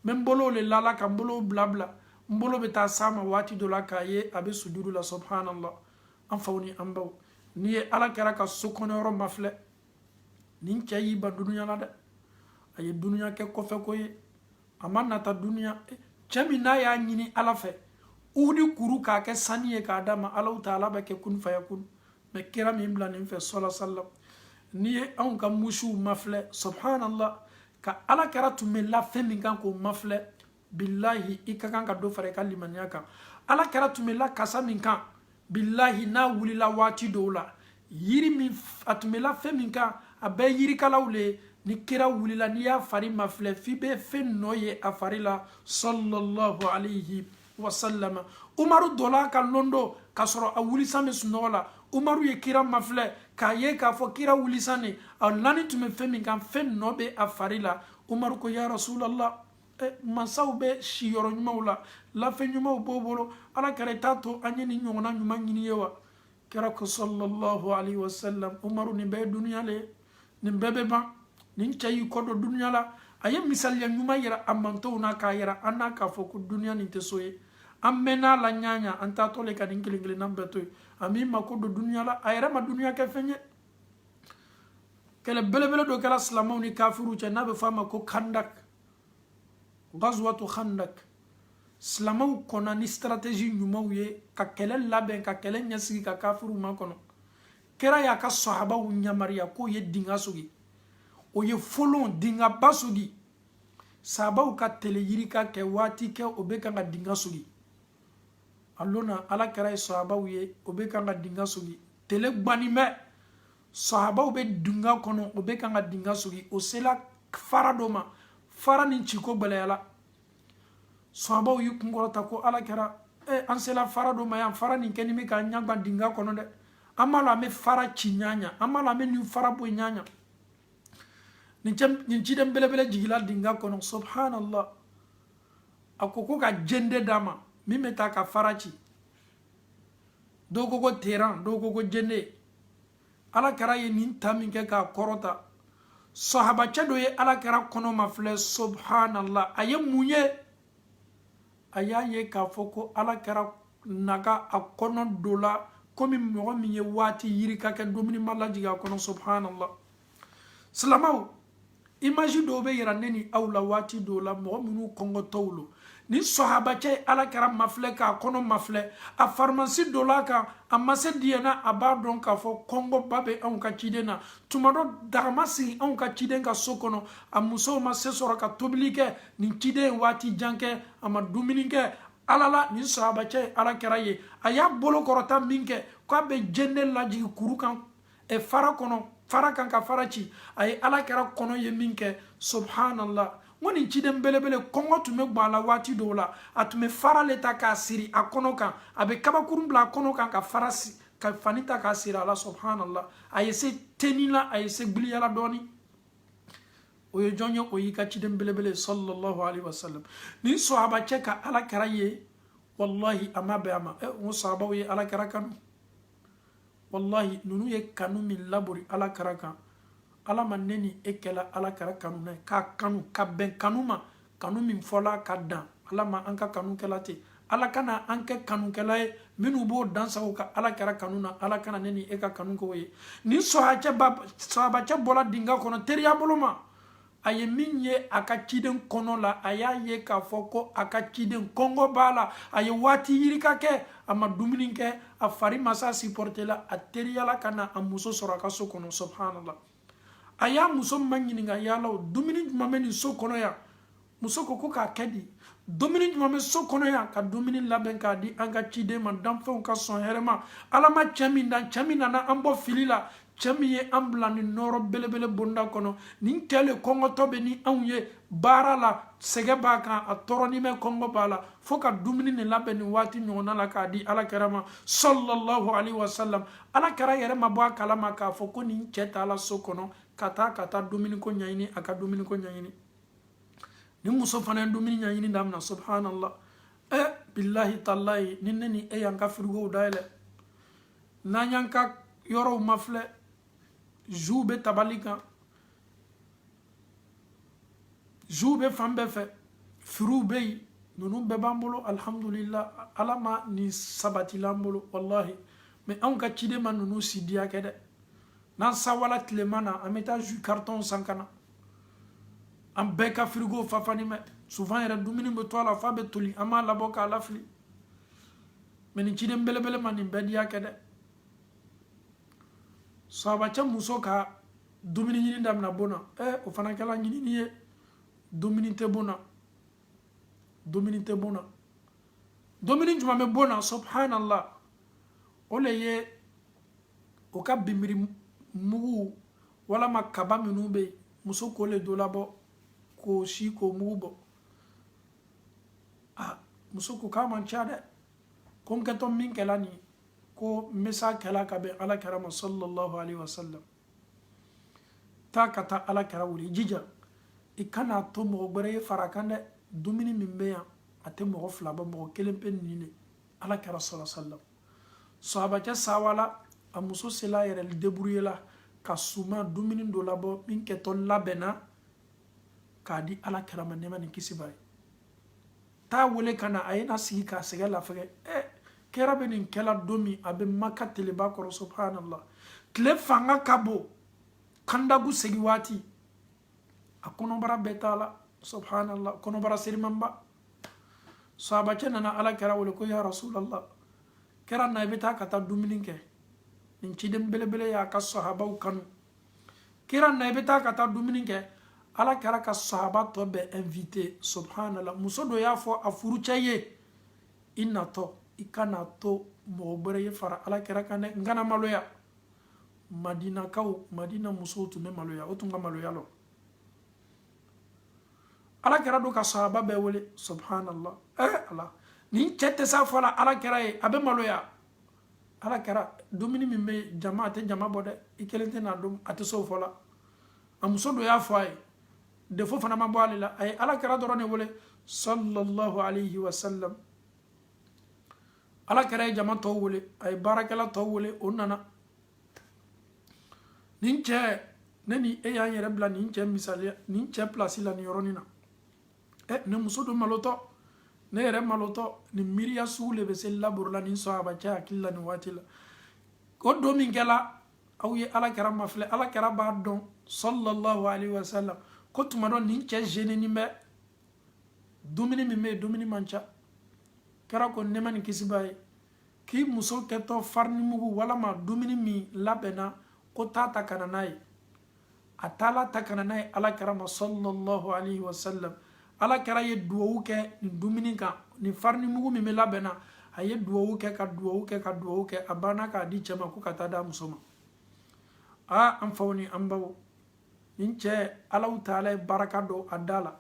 bɛ n bolow le lala ka n bolow bila bila n bolo bɛ taa s'a ma waati dɔ la k'a ye a bɛ sujudu la subhanallah an faw ni an baw n'i ye ala kira ka so kɔnɔyɔrɔ mafilɛ nin cɛ y'i ban dunuya la dɛ a ye dunuya kɛ kɔfɛ ko ye a ma nata dunuya cɛ min n'a y'a ɲini ala fɛ uhudi kuru k'a kɛ sani ye k'a d'a ma allahu taala b'a kɛ kun fayakun mɛ kira m'i bila nin fɛ sallallahu alaihi wasallam n'i ye anw ka musiw mafilɛ subhanallah ka ala kira tun bɛ la fɛn min kan k'o mafilɛ bilahi i ka kan ka dɔ fara i ka limaniya kan ala kira tun bɛ la kasa min kan bilahi n'a wulila waati dɔw la yiri min a tun bɛ la fɛn min kan a bɛɛ yirikalaw le ye ni kira wulila n'i y'a fari mafilɛ f'i bɛ fɛn nɔ ye a fari la sallallahu alayhi wa sallama umaru donna a kan lon dɔ k'a sɔrɔ a wulisan bɛ sunɔgɔ la umaru ye kira mafilɛ k'a ye k'a fɔ kira wulisan nin a lani tun bɛ fɛn min kan fɛn nɔ bɛ a fari la umaru ko ya rasulallah eh, mansaw bɛ siyɔrɔ ɲumanw la lafɛn ɲumanw b'o bolo ala kira i t'a to an ye nin ɲɔgɔnna ɲuman ɲini i ye wa kira ko sallallahu alaihi wasallam umaru nin bɛɛ ye duniya le ye nin bɛɛ bɛ ban nin cɛ y'i kɔ don duniya la a ye misaliya ɲuman yira a manton na k'a yira an na k'a fɔ ko duniya nin tɛ so ye an mɛnna a la ɲa o ɲa an taatɔ le ka nin kelen kelennan bɛɛ to yen a m'i mako don duniya la a yɛrɛ ma duniya kɛ fɛn ye kɛlɛ belebele dɔ kɛra silamɛw ni kafiriw cɛ n'a bɛ fɔ a ma ko khandak gazuwatu khandak silamaw kɔnna ni stratégie ɲumanw ye ka kɛlɛ labɛn ka kɛlɛ ɲɛsigi ka kafiriw makɔnɔ kira y'a ka sahabaw ɲamariya k'o ye dinga sogi o ye folon dingaba sogi sahabaw ka tele yirika kɛ waati kɛ o bɛ kan ka dinga sogi a lonna ala kira ye sahabaw ye o bɛ kan ka dinga sogi tele gbanni bɛ sahabaw bɛ dinga kɔnɔ o bɛ kan ka dinga sogi o sela fara dɔ ma fara nin ciko gbɛlɛyala sahabaw y'i kunkɔrɔta ko ala kɛra e an sela fara dɔ ma yan fara nin kɛni bɛ k'an ɲagba dinga kɔnɔ dɛ an m'a lɔn an bɛ fara ci ɲaɲa an m'a lɔn an bɛ nin fara bɔ ɲaɲa nin cɛ nin ciden belebele jigila dinga kɔnɔ subhanallah a ko ko ka jende d'a ma min bɛ ta ka fara ci dɔw ko ko teran dɔw ko ko jende ala kɛra ye nin ta min kɛ k'a kɔrɔta sahabacɛ dɔ ye ala kɛra kɔnɔ mafilɛ subhanallah a ye mun ye a y'a ye k'a fɔ ko ala kɛra naga a kɔnɔ donla komi mɔgɔ min ye waati yirika kɛ dumuni ma lajigin a kɔnɔ subhanallah silamaw imaji dɔw bɛ yira ne ni aw la waati dɔw la mɔgɔ minnu kɔngɔtɔw lo nin sɔhabacɛ ye ala kɛra mafilɛ k'a kɔnɔ mafilɛ a farimasi dɔ la kan a ma se diyɛna a b'a dɔn k'a fɔ kɔngɔba bɛ anw ka ciden na tuma dɔ daga ma sigi anw ka ciden ka so kɔnɔ a musow ma se sɔrɔ ka tobili kɛ nin ciden ye waati jan kɛ a ma dumuni kɛ ala la nin sɔhabacɛ ye ala kɛra ye a y'a bolo kɔrɔta min kɛ k'a bɛ jende lajigi kuru kan ɛ fara kɔnɔ fara kan ka fara ci a ye ala kɛra kɔnɔ ye min kɛ subhanallah n ko nin ciden belebele kɔngɔ tun bɛ gban a la waati dɔw la a tun bɛ fara le ta k'a siri a kɔnɔ kan a bɛ kabakurun bila a kɔnɔ kan ka fara ka fani ta k'a siri a la subhanallah a ye se teni la a ye se giliya la dɔɔni o ye jɔn ye o y'i ka ciden belebele sallallahu alaihi wasallam nin sahabacɛ ka ala kɛra ye wallahi a ma bɛn a ma ɛ n ko sahabaw ye ala kɛra kanu walahi ninnu ye kanu min labori ala kɛra kan ala ma ne ni e kɛla ala kɛra kanuna ye k'a kanu ka bɛn kanu ma kanu min fɔla ka dan ala ma an ka kanu kɛla ten ala kana an kɛ kanukɛla ye minnu b'o dansago kɛ ala kɛra kanu na ala kana ne ni e ka kanu k'o ye nin sɔhabacɛ bɔla dinga kɔnɔ teriya bolo ma a ye min ye a ka ciden kɔnɔ la a y'a ye k'a fɔ ko a ka ciden kɔngɔ b'a la a ye waati yirika kɛ a ma dumuni kɛ a fari ma s'a sipɔrite la a teriyala ka na a muso sɔrɔ a ka so kɔnɔ subhanallah a y'a muso maɲininka yala o dumuni jumɛn bɛ nin so kɔnɔ yan muso ko ko k'a kɛ di dumuni jumɛn bɛ so kɔnɔ yan ka dumuni labɛn k'a di an ka ciden ma danfɛnw ka sɔn hɛrɛ ma ala ma cɛ min dan cɛ min nana an bɔ fili la cɛ min ye an bila nin nɔɔrɔ belebele bonda kɔnɔ nin cɛ le kɔngɔtɔ bɛ ni anw ye baara la sɛgɛ b'a kan a tɔɔrɔnin bɛ kɔngɔ b'a la fo ka dumuni nin labɛn nin waati ɲɔgɔnna la k'a di ala kɛra ma sallallahu alaihi wasallam ala kɛra yɛrɛ ma bɔ a kala ma k'a fɔ ko nin cɛ taala so kɔnɔ ka taa ka taa dumuniko ɲɛɲini a ka dumuniko ɲɛɲini nin muso fana ye dumuni ɲɛɲini daminɛ subhanallah ɛ bilahi talahi ni ne ni e y'an ka firigow dayɛlɛ n'an y'an ka yɔrɔw mafilɛ zuw bɛ tabali kan zuw bɛ fan bɛɛ fɛ firiw bɛ yen ninnu bɛɛ b'an bolo alihamudulila ala ma nin sabatila an bolo walahi mɛ anw ka ciden ma ninnu si diya kɛ dɛ n'an sawala tilema na an bɛ taa zu karitɔnw san ka na an bɛɛ ka firigo fafani mɛ souvent yɛrɛ dumuni bɛ to a la f'a bɛ toli an b'a labɔ k'a lafili mɛ nin ciden belebele ma nin bɛɛ diya kɛ dɛ sahabacɛ muso ka dumuni ɲini damina bon na ɛ o fana kɛla ɲinini ye dumuni tɛ bon na dumuni tɛ bon na dumuni jumɛn bɛ bon na subhanallah o le ye o ka binbiri mugu walama kaba minnu bɛ yen muso k'o le dɔ labɔ k'o si k'o mugu bɔ a muso ko k'a man ca dɛ ko n kɛtɔ min kɛla nin ye ko n bɛ s'a kɛla ka bɛn ala kira ma sallallahu alaihi wa sallam taa ka taa ala kira wele i jija i kana to mɔgɔ gbɛrɛ ye far'a kan dɛ dumuni min bɛ yan a tɛ mɔgɔ fila bɔ mɔgɔ kelen pe nin de ala kira sallallahu alaihi wa sallam sahabacɛ sawala a muso sela a yɛrɛ deburuyela ka suma dumuni dɔ labɔ min kɛtɔ labɛnna k'a di ala kira ma nɛma ni kisi b'a ye t'a wele ka na a ye na sigi k'a sɛgɛ lafɛgɛ ɛ kira bɛ nin kɛla don min a bɛ maka teleba kɔrɔ subhanallah tile fanga ka bon kandagu segi waati a kɔnɔbara bɛɛ t'a la subhanallah kɔnɔbara serimanba sahabacɛ nana ala kira wele ko ya rasulallah kira na i bɛ taa ka taa dumuni kɛ nin ciden belebele y'a ka sahabaw kanu kira na i bɛ taa ka taa dumuni kɛ ala kira ka sahaba tɔ bɛɛ invite subhanallah muso don y'a fɔ a furucɛ ye i natɔ i kana to mɔgɔ gbɛrɛ ye fara ala kira kan dɛ n kana maloya madinakaw madina musow tun bɛ maloya o tun ka maloya lɔn ala kira don ka sahaba bɛɛ wele subhanallah eh ala nin cɛ tɛ s'a fɔ la ala kira ye a bɛ maloya ala kira dumuni min bɛ yen jama a tɛ jama bɔ dɛ i kelen tɛ n'a dun a tɛ s'o fɔ la a muso don y'a fɔ a ye defo fana ma bɔ ale la a ye ala kira dɔrɔn de wele sallallahu alayhi wa sallam ala kira ye jama tɔw wele a ye baarakɛla tɔw wele o nana nin cɛ ne ni e y'an yɛrɛ bila nin cɛ misaliya nin cɛ pilasi la nin yɔrɔnin na ɛ ne muso don malotɔ ne yɛrɛ malotɔ nin miiriya sugu le bɛ se laburu la nin sahaba cɛ hakili la nin waati la o don min kɛla aw ye ala kɛra mafilɛ ala kɛra b'a dɔn sallallahu alaihi wa sallam ko tuma dɔ nin cɛ zeninin bɛ dumuni min bɛ yen dumuni man ca kɛra ko nɛma ni kisi b'a ye k'i muso kɛtɔ farinimugu walama dumuni min labɛnna ko taa ta ka na n'a ye a taala ta ka na n'a ye ala kɛra ma sallallahu alaihi wasallam ala kɛra ye duwawu kɛ nin dumuni kan nin farinimugu min bɛ labɛn na a ye duwawu kɛ ka duwawu kɛ ka duwawu kɛ a banna k'a di cɛ ma ko ka taa d'a muso ma aa an faw ni an baw nin cɛ alahu taala ye baraka don a da la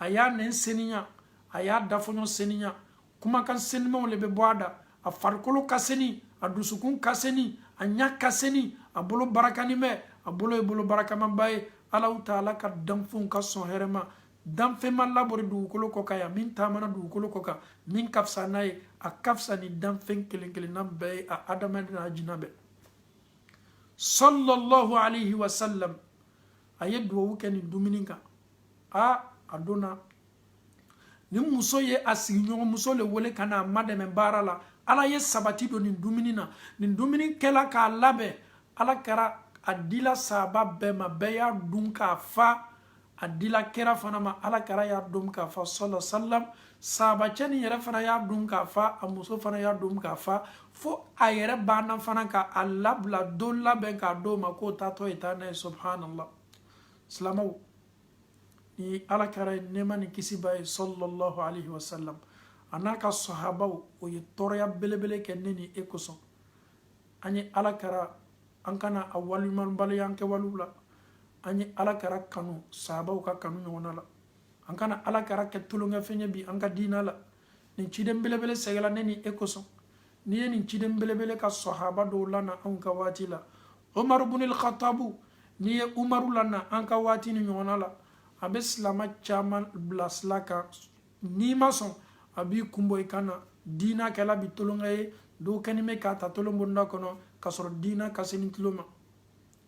a y'a nɛn seniya a y'a dafɔɲɔ seniya kumakan senimaw le bɛ bɔ a da a farikolo ka seni a dusukun ka seni a ɲa ka seni a bolo barakani bɛ a bolo ye bolo barakamaba ye alahu taala ka danfɛnw ka sɔn hɛrɛ ma danfɛn ma labori dugukolo kɔ kan yan min taamana dugukolo kɔ kan min ka fisa n'a ye a ka fisa ni danfɛn kelen kelenna bɛɛ ye a adamaden n'a jina bɛɛ sallallahu alayhi wa sallam a ye duwawu kɛ nin dumuni kan a a donna ni muso ye a sigiɲɔgɔn muso le wele ka na a madɛmɛ baara la ala ye sabati don nin dumuni na nin dumuni kɛla k'a labɛn ala kɛra a dila sahaba bɛɛ ma bɛɛ y'a dun k'a fa a dila kɛra fana ma ala kɛra y'a dun k'a fa sallallahu alaihi wasallam sahaba cɛni yɛrɛ fana y'a dun k'a fa a muso fana y'a dun k'a fa fo a yɛrɛ banna fana ka a labila dɔ labɛn k'a d'o ma k'o taatɔ ye taa n'a ye subhanallah silamɛw ni ala kɛra ye nɛɛma ni kisi b'a ye sallallahu alaihi wasallam a n'a ka sahabaw o ye tɔɔrɔya belebele kɛ ne ni e kosɔn an ye ala kɛra an kana a waliɲumanbaliya an kɛwalew la an ye ala kɛra kanu sahabaw ka kanu ɲɔgɔnna la an kana ala kɛra kɛ tulonkɛfɛn ye bi an ka diina la nin ciden belebele sɛgɛla ne ni e kosɔn n'i ye nin ciden belebele ka sahaba dɔw lana anw ka waati la umaru bunil khatabu n'i ye umaru lana an ka waati nin ɲɔgɔnna la a bɛ silama caman bila sila kan n'i ma sɔn a b'i kunbɔ i kan na diina kɛla bi tolonkɛ ye dɔw kɛnin bɛ k'a ta tolon bonda kɔnɔ k'a sɔrɔ diina ka seni tolon ma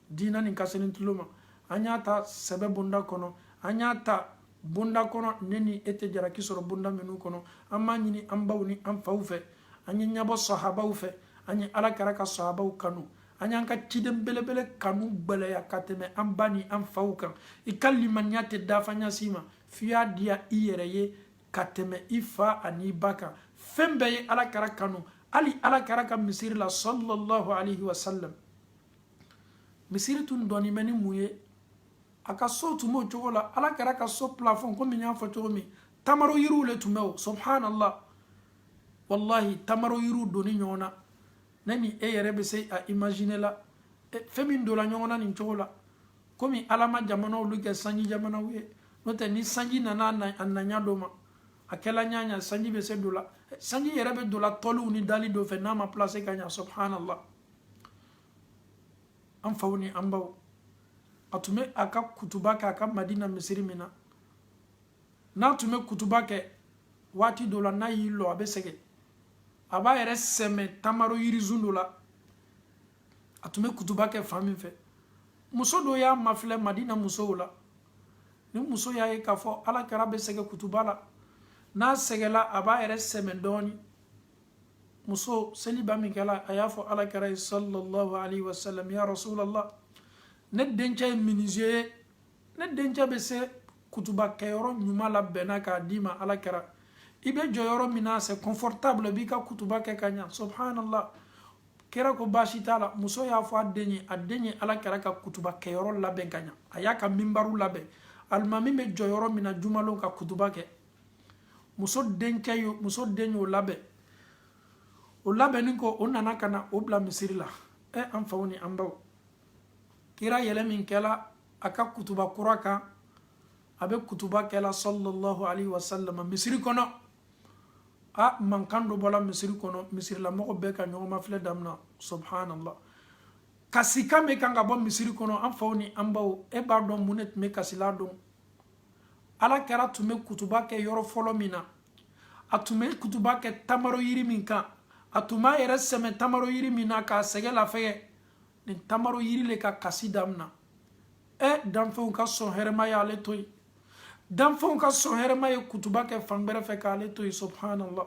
diina nin ka seni tolon ma an y'a ta sɛbɛ bonda kɔnɔ an y'a ta bonda kɔnɔ ne ni e tɛ jaraki sɔrɔ bonda minnu kɔnɔ an b'a ɲini an baw ni an faw fɛ an ye ɲabɔ sahabaw fɛ an ye ala kɛra ka sahabaw kanu an y'an ka ciden belebele kanu gwɛlɛya ka tɛmɛ an ba ni an faw kan i ka limaniya tɛ dafa ɲa si ma f'i y'a diya i yɛrɛ ye ka tɛmɛ i fa an'i ba kan fɛn bɛɛ ye ala kɛra kanu hali ala kɛra ka misiri la sallallahu alaihi wasallam misiri tun dɔnnen bɛ ni mun ye a ka so tun b'o cogo la ala kira ka so plafond komi n y'a fɔ cogo min tamaro yiriw le tun bɛ o subhanallah wallahi tamaro yiriw donnin ɲɔgɔn na ne ni e yɛrɛ bɛ se a imaginer la fɛn min donna ɲɔgɔn na nin cogo la komi ala ma jamanaw lu kɛ sanji jamanaw ye n'o tɛ ni sanji nana a naɲa dɔ ma a kɛla ɲaɲa sanji bɛ se donna sanji yɛrɛ bɛ donna tɔliw ni dali dɔ fɛ n'a ma placer ka ɲa subhanallah an faw ni an baw a tun bɛ a ka kutuba kɛ a ka madina misiri min na n'a tun bɛ kutuba kɛ waati dɔ la n'a y'i lɔ a bɛ sɛgɛn a b'a yɛrɛ sɛmɛ tamaro yirisun dɔ la a tun bɛ kutuba kɛ fan min fɛ muso dɔ y'a mafilɛ madina musow la nin muso y'a ye k'a fɔ ala kira bɛ sɛgɛn kutuba la n'a sɛgɛnla a b'a yɛrɛ sɛmɛ dɔɔnin muso seli ban min kɛla a y'a fɔ ala kira ye sallallahu alaihi wasallam ya rasulallah ne dencɛ ye minize ye ne dencɛ bɛ se kutuba kɛyɔrɔ ɲuman labɛnna k'a d'i ma ala kira i bɛ jɔ yɔrɔ min na c'est confortable b'i ka kutuba kɛ ka ɲa subhanallah kira ko baasi t'a la muso y'a fɔ a den ye a den ye ala kira ka kutuba kɛyɔrɔ labɛn ka ɲa a y'a ka minbaru labɛn alimami bɛ jɔ yɔrɔ min na jumalon ka kutuba kɛ muso denkɛ y'o muso den y'o labɛn o labɛnni kɔ o nana ka na o bila misiri la ɛ an faw ni an baw kira yɛlɛn min kɛla a ka kutuba kura kan a bɛ kutuba kɛla sallallahu alaihi wa sallam misiri kɔnɔ a mankan dɔ bɔla misiri kɔnɔ misirilamɔgɔ bɛɛ ka ɲɔgɔn mafilɛ damina subhanallah kasikan bɛ kan ka bɔ misiri kɔnɔ an faw ni an baw e b'a dɔn mun de tun bɛ kasila dɔn ala kira tun bɛ kutuba kɛ yɔrɔ fɔlɔ min na a tun bɛ kutuba kɛ tamaro yiri min kan a tun b'a yɛrɛ sɛmɛ tamaro yiri min na k'a sɛgɛn lafɛgɛ nin tamaro yiri le ka kasi damina ɛ danfɛnw ka sɔn hɛrɛma ye ale to yen danfɛnw ka sɔn hɛrɛma ye kutuba kɛ fan gbɛrɛ fɛ k'ale to yen subhanallah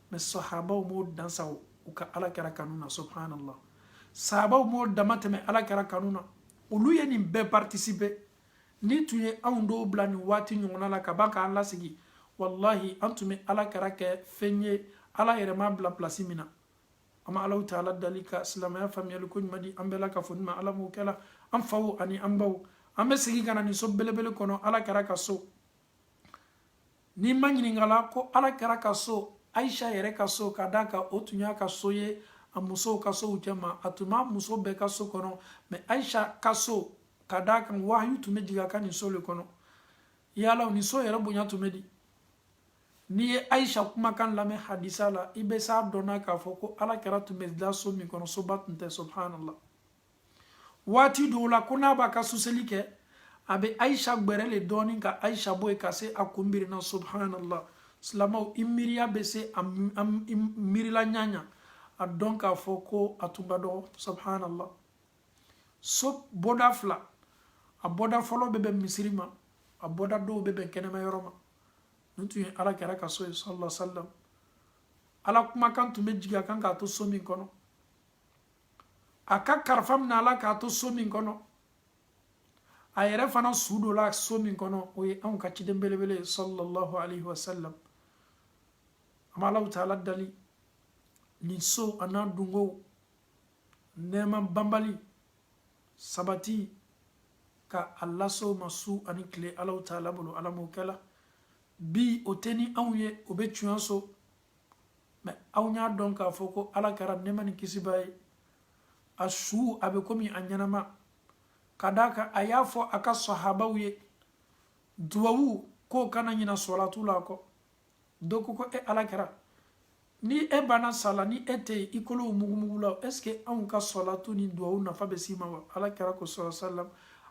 mɛ sahabaw m'o dansa u ka ala kira kanu na subhanallah sahabaw m'o damatɛmɛ ala kira kanu na olu ye nin bɛɛ participer n'i tun ye anw dɔw bila nin waati ɲɔgɔnna la ka ban k'an lasegin wallahi an tun bɛ ala kira kɛ fɛn ye ala yɛrɛ m'a bila pilasi min na an bɛ allahu taala dali ka silamɛya faamuyali koɲuman di an bɛɛ lakafo ma ala m'o kɛla an faw ani an baw an bɛ segin ka na nin so belebele kɔnɔ ala kira ka so n'i ma ɲininkala ko ala kira ka so ayisa yɛrɛ ka so ka d'a kan o tun y'a ka so ye a musow ka sow cɛma a tun b'a muso bɛɛ ka so kɔnɔ mɛ ayisa ka so ka d'a kan wahayu tun bɛ jigin a ka nin so le kɔnɔ yala nin so yɛrɛ bonya tun bɛ di n'i ye ayisa kumakan lamɛn hadisa la i bɛ s'a dɔnna k'a fɔ ko ala kira tun bɛ da so min kɔnɔ soba tun tɛ subhanallah waati dɔw la ko n'a b'a ka suseli kɛ a bɛ ayisa gbɛrɛ le dɔɔni ka ayisa bɔ yen ka se a kun birina subhanallah silamɛw i miiriya bɛ se a miirila ɲaɲa a dɔn k'a fɔ ko a tun ka dɔgɔ subhanallah so bɔda fila a bɔda fɔlɔ bɛ bɛn misiri ma a bɔda dɔ bɛ bɛn kɛnɛma yɔrɔ ma nin tun ye ala kɛra ka so ye sallallahu alaihi wa sallam ala kumakan tun bɛ jigin a kan k'a to so min kɔnɔ a ka karifa minala k'a to so min kɔnɔ a yɛrɛ fana su don la so min kɔnɔ o ye anw ka ciden belebele ye sallallahu alaihi wasallam an bɛ alahu taala dali nin so a n'a dunkow nɛɛma banbali sabati ka a lase o ma su ani tile alahu taala bolo ala m'o kɛla bi o tɛ ni anw ye o bɛ tiɲɛ so mɛ aw y'a dɔn k'a fɔ ko ala kɛra nɛɛma ni kisi b'a ye a su a bɛ komi a ɲɛnama ka d'a kan a y'a fɔ a ka sahabaw ye duwawu k'o kana ɲina sɔlatu la kɔ dɔ ko ko e ala kɛra ni e banna sala ni e tɛ yen i kolow mugumugula est ce que anw ka sɔlatu ni duwawu nafa bɛ s'i ma wa ala kɛra ko sɔrɔ salam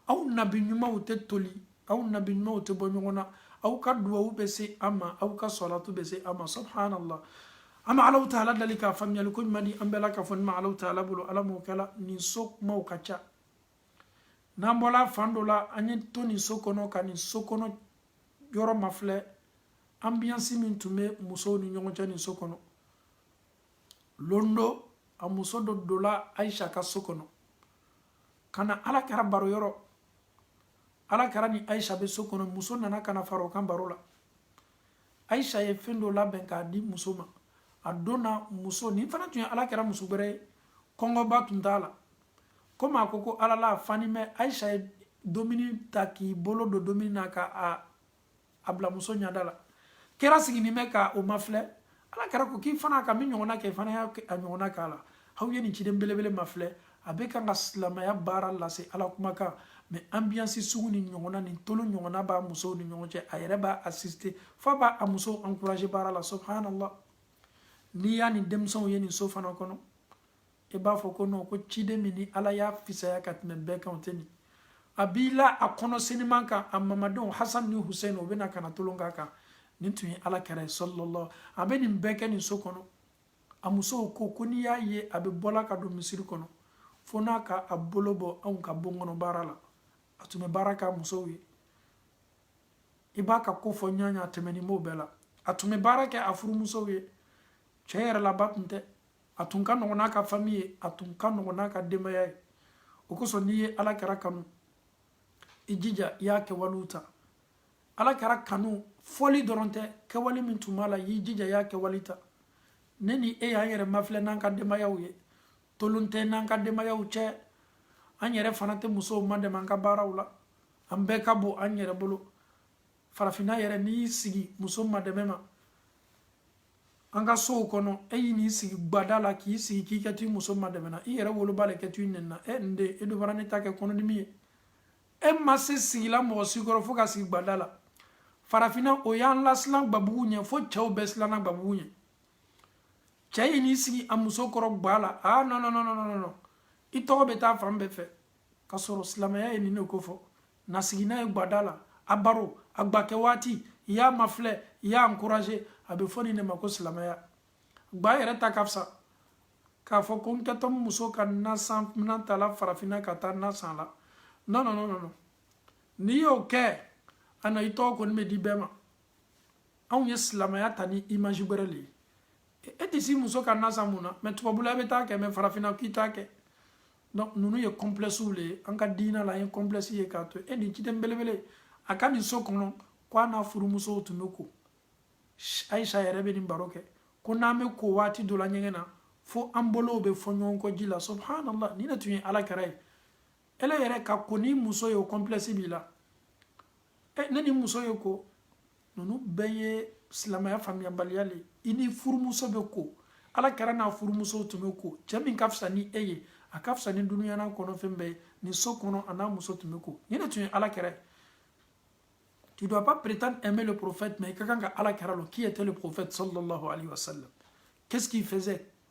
anw nabi ɲumanw tɛ toli anw nabi ɲumanw tɛ bɔ ɲɔgɔn na aw ka duwawu bɛ se an ma aw ka sɔlatu bɛ se an ma subhanallah an bɛ alahu taala dali k'a faamuyali ko ɲuman di an bɛɛ lakafonin ma alahu taala bolo ala m'o kɛla nin so kumaw ka ca n'an bɔla fan dɔ la an ye to nin so kɔnɔ ka nin so kɔnɔ yɔrɔ mafilɛ anbiyansi min tun bɛ musow ni ɲɔgɔn cɛ nin so kɔnɔ lon dɔ a muso dɔ dola ayisa ka so kɔnɔ ka na ala kɛra baro yɔrɔ ala kɛra ni ayisa bɛ so kɔnɔ muso nana ka na fara o kan baro la ayisa ye fɛn dɔ labɛn k'a di muso ma a don na muso nin fana tun ye ala kɛra muso gbɛrɛ ye kɔngɔba tun t'a la komi a ko ko ale le fanin bɛ ayisa ye dumuni ta k'i bolo don dumuni na ka a a bila muso ɲada la kira siginin bɛ ka o mafilɛ ala kira ko k'i fana ka min ɲɔgɔnna kɛ i fana y'a a ɲɔgɔnna k'a la aw ye nin ciden belebele mafilɛ a bɛ kan ka silamaya baara lase ala kumakan mɛ anbiyansi sugu nin ɲɔgɔnna ni tolon ɲɔgɔnna b'a musow ni ɲɔgɔn cɛ a yɛrɛ b'a asisite f'a b'a a musow ankuraze baara la subhanallah n'i y'a ni denmisɛnw ye nin so fana kɔnɔ i b'a fɔ ko non ko ciden min ni ala y'a fisaya ka tɛmɛ bɛɛ kan o tɛ nin a b'i la a kɔnɔ seniman kan a mamadenw hasan ni husein o bɛna ka na tolon k'a kan nin tun ye ala kɛra ye sɔlɔlɔ a bɛ nin bɛɛ kɛ nin so kɔnɔ a musow ko ko n'i y'a ye a bɛ bɔla ka don misiri kɔnɔ fo n'a ka a bolo bɔ anw ka bon kɔnɔ baara la a tun bɛ baara k'a musow ye i b'a ka ko fɔ ɲɔgɔn a tɛmɛni b'o bɛɛ la a tun bɛ baara kɛ a furumusow ye cɛ yɛrɛ la ba tun tɛ a tun ka nɔgɔn n'a ka fami ye a tun ka nɔgɔn n'a ka denbaya ye o kosɔn n'i ye ala kɛra kanu i jija i y'a kɛwalew ta ala kɛra kanu fɔli dɔrɔn tɛ kɛwale min tun b'a la y'i jija i y'a kɛwale ta ne ni e y'an yɛrɛ mafilɛ n'an ka denbayaw ye tolon tɛ n'an ka denbayaw cɛ an yɛrɛ fana tɛ musow madɛmɛ an ka baaraw la an bɛɛ ka bon an yɛrɛ bolo farafinna yɛrɛ n'i y'i sigi muso madɛmɛ ma an ka sow kɔnɔ e y'i n'i sigi gbada la k'i sigi k'i kɛtɔ i muso madɛmɛna i yɛrɛ woloba le kɛtɔ i nɛnina e n den e dun bara ne ta kɛ kɔnɔdimi ye e ma se sigila mɔgɔ si kɔrɔ fo ka sigi gbada la farafinna o y'an lasilan gbabugu ɲɛ fo cɛw bɛɛ silanna gbabugu ɲɛ cɛ y'i n'i sigi a muso kɔrɔ gba la aa non non non non non i tɔgɔ bɛ taa fan bɛɛ fɛ ka sɔrɔ silamɛya ye nin ne kofɔ na sigi n'a ye gbada la a baro a gbakɛ waati i y'a mafilɛ i y'a encourager a bɛ fɔ nin de ma ko silamɛya gba yɛrɛ ta ka fisa k'a fɔ ko n kɛtɔ muso ka nasan minan ta la farafinna ka taa nasan la non non non non n'i y'o kɛ a na i tɔgɔ kɔni bɛ di bɛɛ ma anw ye silamɛya ta ni image wɛrɛ de ye e tɛ s'i muso ka nasan mun na mais tubabula i bɛ t'a kɛ mais farafinna k'i t'a kɛ donc ninnu ye complexew le ye an ka diina la an ye complexe ye k'a to e nin ciden belebele a ka nin so kɔnɔ ko a n'a furumusow tun bɛ ko ayisa yɛrɛ bɛ nin baro kɛ ko n'an bɛ ko waati dɔ la ɲɛgɛn na fo an bolow bɛ fɔ ɲɔgɔn kɔ ji la subhanallah nin de tun ye ala kɛra ye ele yɛrɛ ka ko n'i muso ye o complexe b'i la e ne n'i muso ye ko ninnu bɛɛ ye silamɛya faamuyabaliya le i n'i furumuso bɛ ko ala kɛra n'a furumuso tun bɛ ko cɛ min ka fisa ni e ye a ka fisa ni dunuyana kɔnɔ fɛn bɛɛ nin so kɔnɔ a n'a muso tun bɛ ko nin de tun ye ala kɛra ye tu dois pas prétendre aimer le prophète mais i ka kan ka ala kɛra lɔn qui était le prophète sallallahu alayhi wa sallam qu'est ce qu'il faisait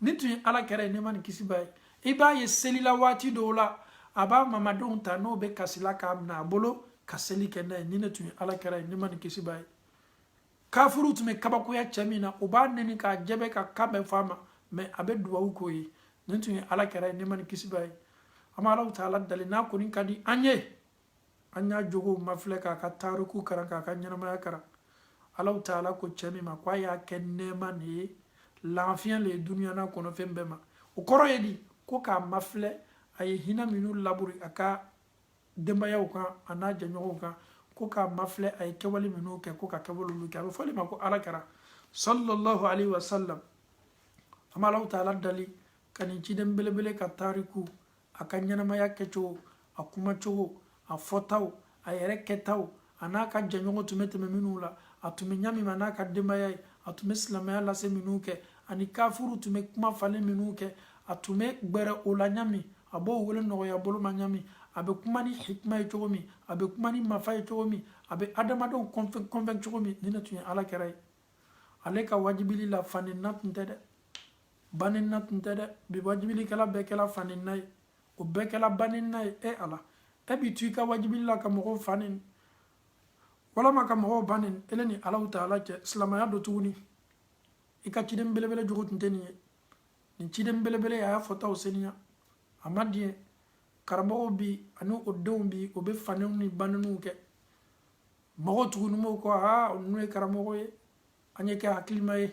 nin tun ye ala kɛra ye nɛɛma ni kisi b'a ye i b'a ye selila waati dɔw la a b'a mamadenw ta n'o bɛ kasila k'a minɛ a bolo ka seli kɛ n'a ye nin ne tun ye ala kɛra ye nɛɛma ni kisi b'a ye kafiriw tun bɛ kabakoya cɛ min na o b'a nɛni k'a jɛbɛ ka kan bɛɛ f'a ma mais a bɛ dubabu k'o ye nin tun ye ala kɛra ye nɛɛma ni kisi b'a ye an bɛ allahu taala dali n'a kɔni ka di an ye an y'a jogow mafilɛ k'a ka tariku karan k'a ka ɲɛnamaya karan allahu taala ko cɛ min ma k'a y'a kɛ nɛɛma de ye lafiɲɛ le ye duniya n'a kɔnɔ fɛn bɛɛ ma o kɔrɔ ye di ko k'a mafilɛ a ye hinɛ minnu laburi a ka denbayaw kan a n'a jɛɲɔgɔnw kan ko k'a mafilɛ a ye kɛwale minnu kɛ ko ka kɛwale olu kɛ a bɛ f'o de ma ko ala kɛra sallallahu alaihi wasallam an bɛ allahu taala dali ka nin ciden belebele ka tariku a ka ɲɛnamaya kɛcogo a kumacogo a fɔtaw a yɛrɛ kɛtaw a n'a ka jɛɲɔgɔn tun bɛ tɛmɛ minnu la a tun bɛ ɲa min ma n'a ka denbaya ye a tun bɛ silamɛya lase minnu kɛ ani kafuru tun bɛ kuma falen minnu kɛ a tun bɛ gbɛrɛ o la ɲa min a b'o wele nɔgɔya bolo ma ɲa min a bɛ kuma ni hikima ye cogo min a bɛ kuma ni mafa ye cogo min a bɛ adamadenw convaincre cogo min nin ne tun ye ala kira ye ale ka wajibili la fanenina tun tɛ dɛ banenina tun tɛ dɛ bi wajibilikɛla bɛɛ kɛla fanenina ye o bɛɛ kɛla banenina ye e ala e b'i to i ka wajibili la ka mɔgɔw fa neni walama ka mɔgɔw ba neni ele ni alahu taala cɛ silamaya don tuguni i ka ciden belebele jogo tun tɛ nin ye nin ciden belebele a y'a fɔtaw seniya a ma diɲɛ karamɔgɔw bi ani o denw bi o bɛ faneniw ni baneniw kɛ mɔgɔw tuguni mɔgɔw ko aa ninnu ye karamɔgɔ ye an ye kɛ hakilima ye